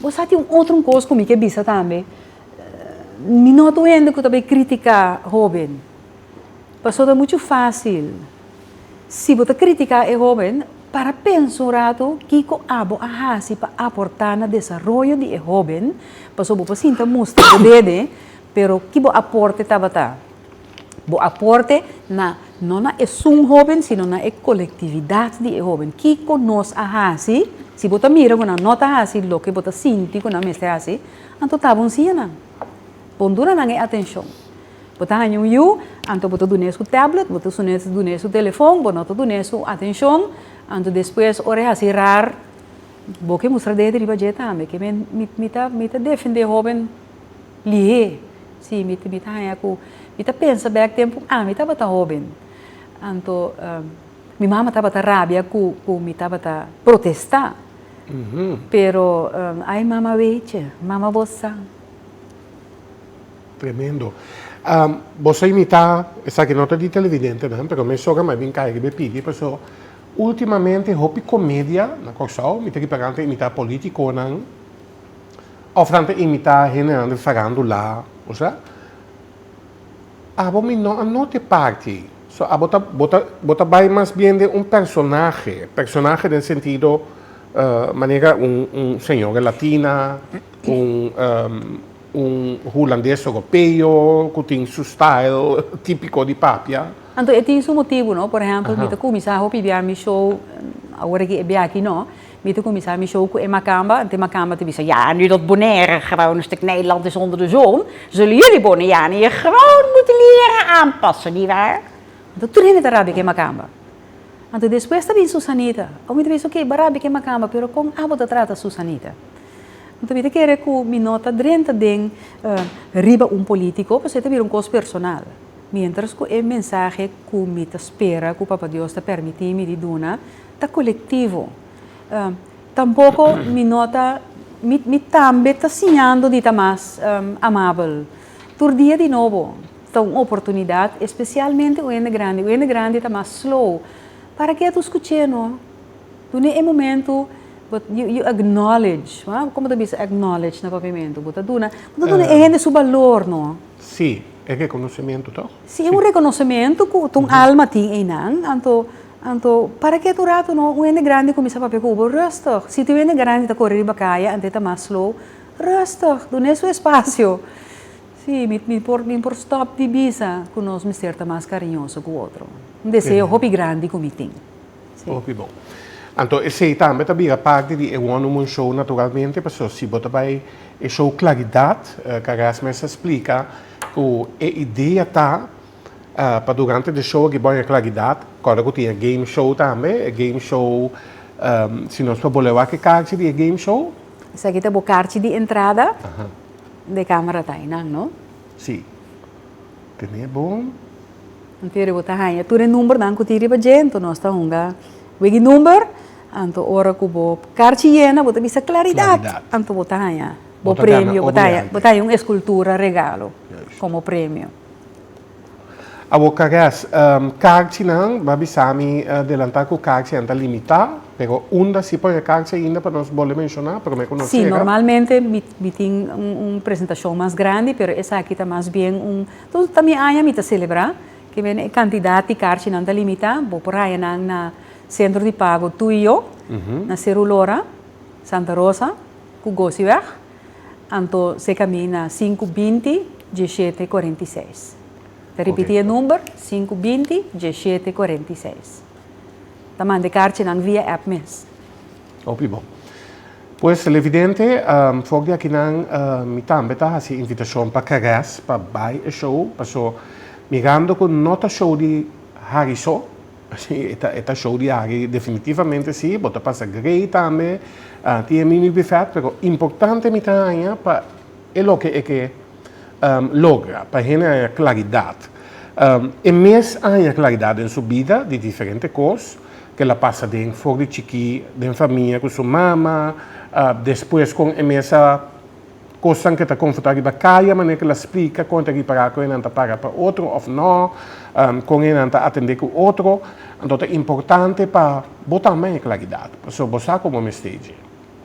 Bo sa tin un otro cos cu mi ke bisa tambe, mi no ta un hende cu ta bay critica hoben, paso ta mucho facil, si bo ta critica e hoben, para pensa un rato kico abo a haci pa aporta na desaroyo di e hoben, paso bo por sinta mustra bo dede, pero ki bo aporte tabata? Bo aporte na, no na esun hoben, sino na e colectividad di e hoben. Kico nos a haci? Si bo ta mira cu nan no ta haci loke bo ta sinti cu nan mester haci, anto tabo un siña nan. Bon duna nan e atencion. Bo ta haña un yu, anto bo ta dun'e su tablet, bo ta dun'e su telefon, bo no ta dun'e su atencion, anto despues ora e haci rar, bo ke mustra dehe di riba dje tambe. Mi ta defende hoben. Lihé. Sí, mi ta haña ku mi ta pensa bèk tempu ami tabata hóben. Anto mi mama tabata rabia ku mi tabata protestá. Pero ai mama Weitje, mama bo sa. Tremendo. Bo sa imitá, esaki no ta di televidentenan, pero mi sogra mai bin kai riba e pigi paso últimamente hopi komedia na Kòrsou, mi ta ripará nan ta imitá polítikonan. Of nan ta imitá hendenan di Sarando la, u sa. Abo mi no a nota e parti ei. So abo ta, bo ta, bo ta bai mas bien den un personahe. Personahe den sentido manera un, un señora latina, un, un hulandes europeo ku tin su style típico di papia. Anto e tin su motibu, no. Por ehèmpel mi ta kuminsá hopi bia mi show awor aki e bia aki no. Mi ta kuminsá mi show ku e makamba, anto e makamba ta bisa, Ya nu dat Bonaire grou, nos ta knij e land esonder de zon, so lo yuli Boniani e grou no moet lera aanpassa, niet waar? Anto tur hende ta rabia ku e makamba. Anto despues ta bin Susanita. Awo mi ta bisa, Oke, bo a rabia ku e makamba, pero kon abo ta trata Susanita? Anto mi ta kere ku mi no ta drenta den riba un polítiko, pasobra e ta bira un kos personal. Miéntras ku e mensahe ku mi ta spera ku Papa Dios ta permití mi di duna, Ta colectivo. Tampoco mi no ta, mi, mi tambe ta siñando di ta mas amabel. Tur dia di nobo ta un oportunidad, especialmente un hende grandi. Un hende grandi ta mas slow. Para ke ato scuch'é no? Dun'é e momento bo, you, you acknowledge, ha? Como ta bisa acknowledge na Papiamentu? Bo ta duna, bo ta duna e hende su balor, no? Sí, e reconocimento, toch? Sí, e un reconocimento cu, cu un alma tin einan, anto. Anto, para kiet un ratu no, un hende grandi kuminsá papia ku bo, Rustig! Siti un hende grandi ta kore riba kaya, anto e ta mas slow, Rustig! Dun'é su espasio! Sí, mi, mi por, mi por stòp di bisa ku nos mester ta mas kariñoso ku otro. Un deseo hopi grandi ku mi tin. Sí. Hopi bon. Anto, esei tambe ta bira parti di e Wonder Moon Show naturalmente, paso si bo ta bai e show Claridad, Carrasco mester splika ku e idea ta eh, pa durante de show aki boña klaridat, kòrda ku tin e game show tambe, e game show, ehm, si nos por bol'e wak e karchi di e game show? Esaki ta bo karchi di entrada Aha, de Kamara Tainan, no? si. Tene bo? Anto bo ta haña tur e numbernan ku tin riba dje, anto nos ta hunga wegi number, anto ora ku bo karchi yena bo ta bisa klaridat, Klaridat. anto bo ta haña Bo bo ta gana premio, bo ta haña, obliante. bo ta haña un eskultura regalo Juist. komo premio. Awor Kares, karchi nan, bo a bisa mi delanta ku karchi nan ta limitá, pero unda si por e karchi ainda pa nos bol'e menshoná promé ku nos yega? Normalmente mi tin un presentashon mas grandi, pero esaki ta mas bien un, entonces ta mi aña mi ta selebrá, ke men e kantidat di karchi nan ta limitá, bo por haña nan na Sentro di Pago Tú y Yo, na Serulora, Santa Rosa ku Gosiweg, Anto se camina sinku binti, dieshete, cuarenta i seis. Ta ripiti e number, sinku binti, dieshete, cuarenta i seis. Ta manda e carchinan via app mes. Hopi bon. Pues televidente, fok di akinan mi tambe ta haci e invitacion pa Carrez pa bay e show, paso mirando cu no ta show di Harry so, E ta show di aki definitivamente si, bo ta pasa grei tambe, tin e mimi bifèt, pero importante mi ta haña pa e loke e ke logra, pa hende haña klaridat. E mes a haña klaridat den su bida di diferente kos, ku el a pasa den for di chikí, den famia ku su mama, despues kon e mes a. Kosnan ke ta konfortá riba e kaya, manera ke lo a splika kon ta ripará kon e nan ta para pa otro òf nò, kon e nan ta atendé ku otro. Anto ta importante pa bo ta mei klaridat, pasobra bo sa kon bo mester dje.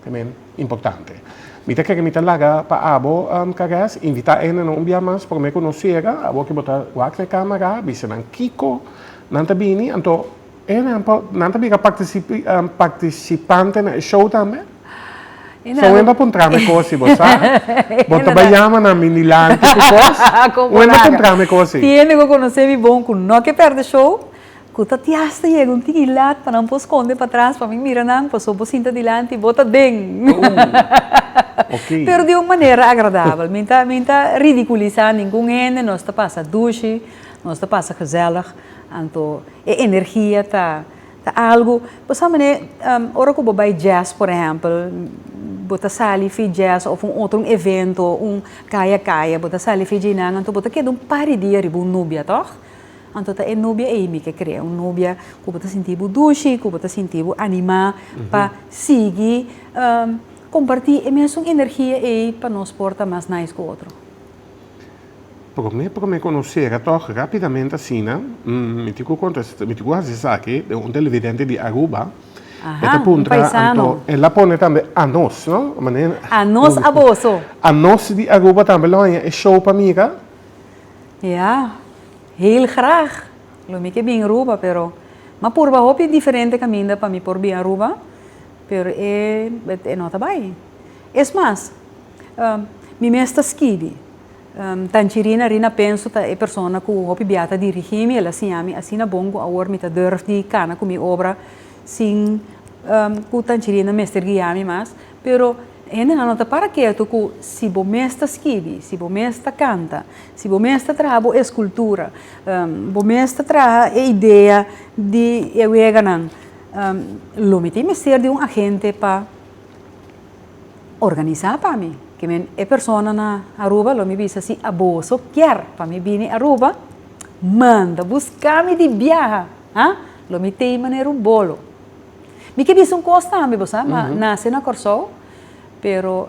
Ta men importante. Mi ta kere mi ta laga pa abo, Caress, invitá e nannan un bia mas, promé ku nos sera, abo ke bo ta wak na e kámara, bisa nan kiko nan ta bini. Anto. Ehempel, nan ta biga participante na e show tambe? So wen bo a puntra mi cosi, bo sa? Bo ta bay yama na mi dilanti cu cos? Wen bo a puntra mi cosi? Tiene cu conoce mi bon cu no ke perde show, cu ta ti hasta yega un tin ilat pa nan por sconde patras pa mi mira nan, paso bo sinta dilanti, bo ta den. Pero di un manera agradabel. Mi ta, mi ta ridiculisa ningun hende, nos ta pasa dushi, nos ta pasa gezellig. Anto, E energia ta ta algu pasobra manera ora ku bo bai jazz por ehèmpel bo ta sali fi jazz òf un otro un evento un kaya kaya bo ta sali fi dje nan anto bo ta keda un par di dia riba un nubia tòg anto ta e nubia ei mi ke krea un nubia ku bo ta sinti bo dushi ku bo ta sinti bo animá pa sigui komparti e mesun energia ei pa nos por ta mas nice ku otro. Promé promé konosera tòg rápidamente asina, mi tin ku kontestá, mi tin ku hasi esaki, den un televidente di Aruba, e ta puntra anto, el a pone tambe anos, no? Anos a boso. Anos di Aruba tambe lo haña e show pa mira? Ya, heel grag, lo mi ke bin Aruba, pero m'a purba hopi diferente kaminda pa mi por bin Aruba, pero e no ta bai. Es mas. Mi mes ta skibi. Tanchirina Rina Penso ta e persona ku hopi bia ta dirigí mi, el a siña mi asina bon ku awor mi ta durf di kana ku mi obra sin ku Tanchirina mester guia mi mas. Pero hendenan no ta para ketu ku si bo mes ta skibi, si bo mes ta kanta, si bo mes ta traha bo eskultura, bo mes ta traha e idea di e weganan lo mi tin mester di un agente pa. Organisa pa mi. Ki men e persona na Aruba lo mi bisa si a boso kier pa mi bini Aruba manda buska mi di biaha ha lo mi tei manera un bolo. Mi ke bisa un kos tambe bo sa ma nase na Kòrsou pero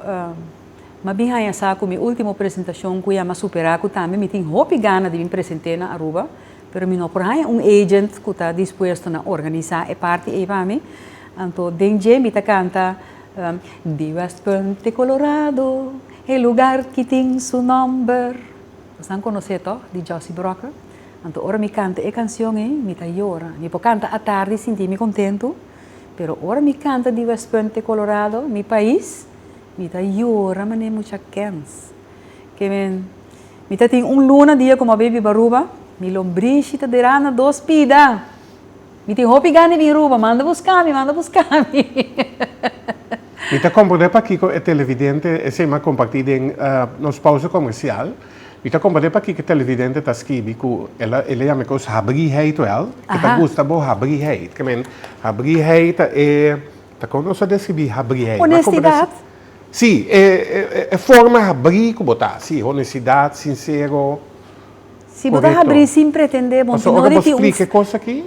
ma bin haña sa ku mi ultimo presentashon ku ya ma supera ku tambe mi tin hopi gana di bin presente na Aruba pero mi no por haña un agent ku ta dispuesto na organisa e parti ei pa mi anto den dje mi ta kanta Di West Punt di Colorado, e lugar ki tin su nomber. Nos nan conoce to, di Jossie Brocker. Anto ora mi canta e cancion ey, mi ta yora. Mi por canta atardi y sinti mi contento, pero ora mi canta Di West Punt di Colorado, mi pais, mi ta yora manera mucha kens. Ke men, mi ta tin un luna dia como a baby Baruba, mi lombrishi ta dera na dos pida! Mi tin hopi gana di Aruba, manda buska mi, manda buska mi. Mi ta komprende pakiko e televidente esei m'a kompartí den nos pausa komersial. Mi ta komprende pakiko e televidente ta skibi ku el a yama e kos habrigheid wèl, ke ta gusta bo habrigheid. I mean, habrigheid ta e, ta kon nos a deskribí habrigheid? Honestidat? Sí, e forma habrí ku bo ta, sí, honestidat, sinsero. Si bo ta habrí sin pretendé, bo tin ori tin un. Pasobra bo scribi e cos aki,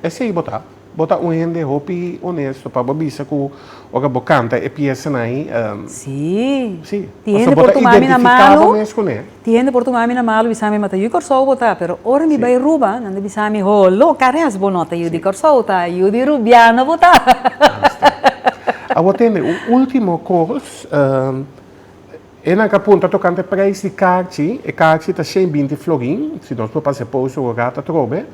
esei bo ta. Bo ta un hende hopi honesto pa bo bisa cu ora bo canta e piesanan ei, pasobra bo ta identifica bo mes cu ne. Tin hende por tuma mi na malu, bisami mata yu di Corsou bo ta, pero ora mi bai Aruba, nan ta bisami ho, loca res bo no ta yu di Corsou ta, yu di Rubiana bo ta. Awor tende un ultimo cos. E nan ka punta tokante preis di karchi, e karchi ta shen binti florin, si nos por pase post ora rat atrobe,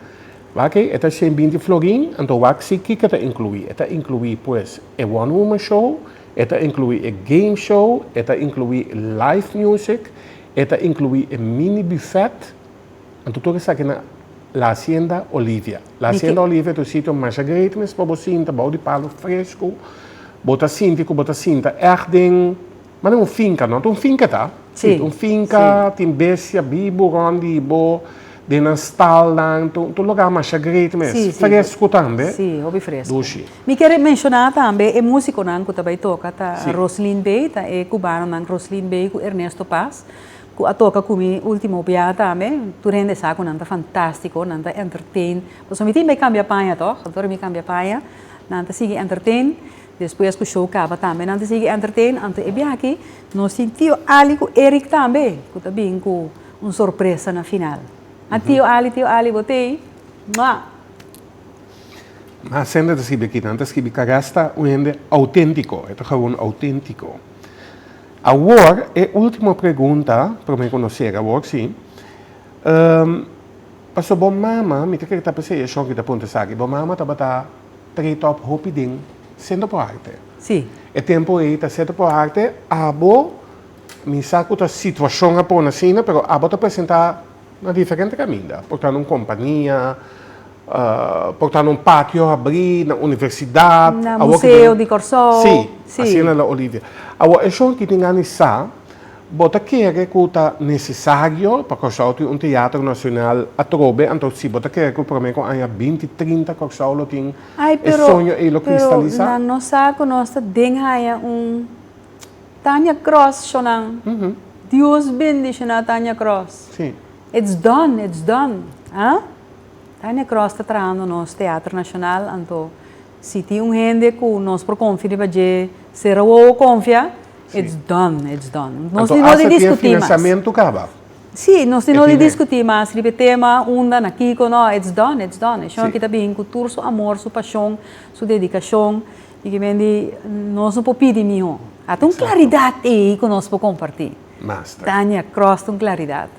oke, e ta shen binti florin, anto wak si kiko ta inclui, e ta inclui pues e one woman show, e ta inclui e game show, e ta inclui live music, e ta inclui e mini buffet, anto tur esaki na La Hacienda Olivia, La Hacienda Olivia ta un sitio masha great mes pa bo sinta bou di palo fresco, bo ta sinti cu bo ta sinta echt den. Mane un finka no ta un finka ta si un finka tin besia bibu rond di bo den nan stalnan ta un lugar masha great mes fresku tambe si hopi fresku dushi mi kier menshona tambe e musikonan ku ta bai toka ta Roslin Bey ta e kubanonan Roslin Bey ku Ernesto Paz ku a toka ku mi ultimo bia tambe tur hende sa ku nan ta fantastiko nan ta entertain pasobra mi tin bai kambia paña tog ator mi kambia paña nan ta sigui entertain. Despues ku show kaba tambe nan ta sigui entertain anto e biaha aki nos tin Tio Ali ku Eric tambe ku ta bin ku un sorpresa na final. A Tio Ali Tio Ali bo tei mwah. Mas hende ta skibi aki nan ta skibi Caresta un hende autentico e ta gewoon autentico. Awor e ultimo pregunta prome ku nos sera awor si paso bo mama mi ta kere ta p'esei a Shoki ta punta esaki bo mama tabata treta op hopi ding sendo por harte. Sí. E tempo ei ta sendo por harte abo mi sa cu ta situacion a pone asina pero abo ta presenta na diferente caminda. Por ta na un compania, por ta na un patio habri, na universidad. Na museo di Corsou. Sí. Asina la Olivia. Awor e shon aki tin gana di sa. Bo ta kere ku ta nesesario pa Kòrsou tin un teatro nasional atrobe, anto si bo ta kere ku promé ku aña binti trinta Kòrsou lo tin e soño ei lo kristalisá? Pero nan no sa ku nos ta den haña un Tanya Cross shonan. Dios bendishoná Tanya Cross. It's done, it's done. Tanya Cross ta trahando nos teatro nasional, anto Si tin un hende ku nos por konfia riba dje, sera wowo konfia, it's done, it's done. Nos tin no di diskutí mas. Anto asa ku e finansiamentu kaba? Sí, nos tin no di diskutí mas riba e tema unda, na kiko, no, it's done, it's done. E shon aki ta bihín ku tur su amor, su pashon, su dedikashon i ke men di nos no por pidi mihó. A ta un klaridat ei ku nos por kompartí. Tania Cross ta un klaridat.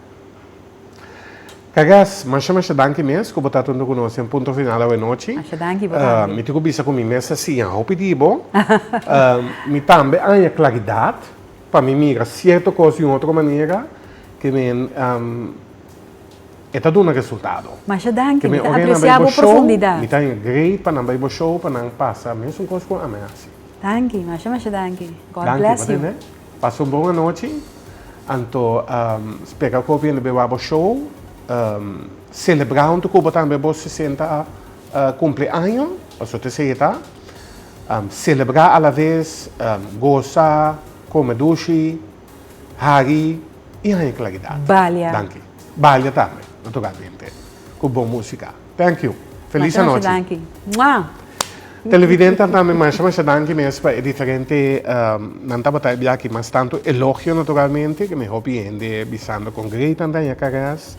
Kagas, masha masha danki mes ku bo ta tuntu ku nos den Punto Final awe nochi. Masha danki bo tambe. Mi tin ku bisa ku mi mes a siña hopi di bo. Mi tambe a haña klaridat, pa mi mira sierto kos di un otro manera, ke men e ta duna resultado. Masha danki, mi ta apresia bo profundidat. Mi ta haña great pa nan bai bo show, pa nan pasa mesun kos ku ami a hasi. Danki, masha masha danki. God bless you. Pasa un bon anochi. Anto spera ku ofiente be wak bo show. Selebrá huntu ku bo tambe bo sesenta kumpli año. Paso ta esei ta. Selebrá alaves gosa, kome dushi, hari i haña klaridat. Balia. Danki. Balia tambe. Lo tokante ku bon músika. Thank you. Feliz Masha masha anochi. danki. Mwah! Televidentenan tambe masha masha danki mes pa e diferente ehm, nan tabata e biachi mas tanto elogio naturalmente ke mi hopi hende bisando kon grei tan daña karas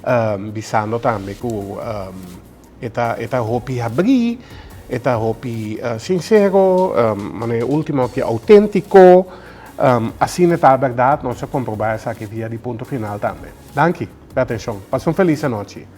ehm, bisando tambe ku ehm, e ta e ta hopi habri e ta hopi eh, sincero ehm, manera e ultimo aki autentico ehm, asina ta berdad nos a comproba esaki via di punto final tambe danki pe atencion pasa un feliz anochi.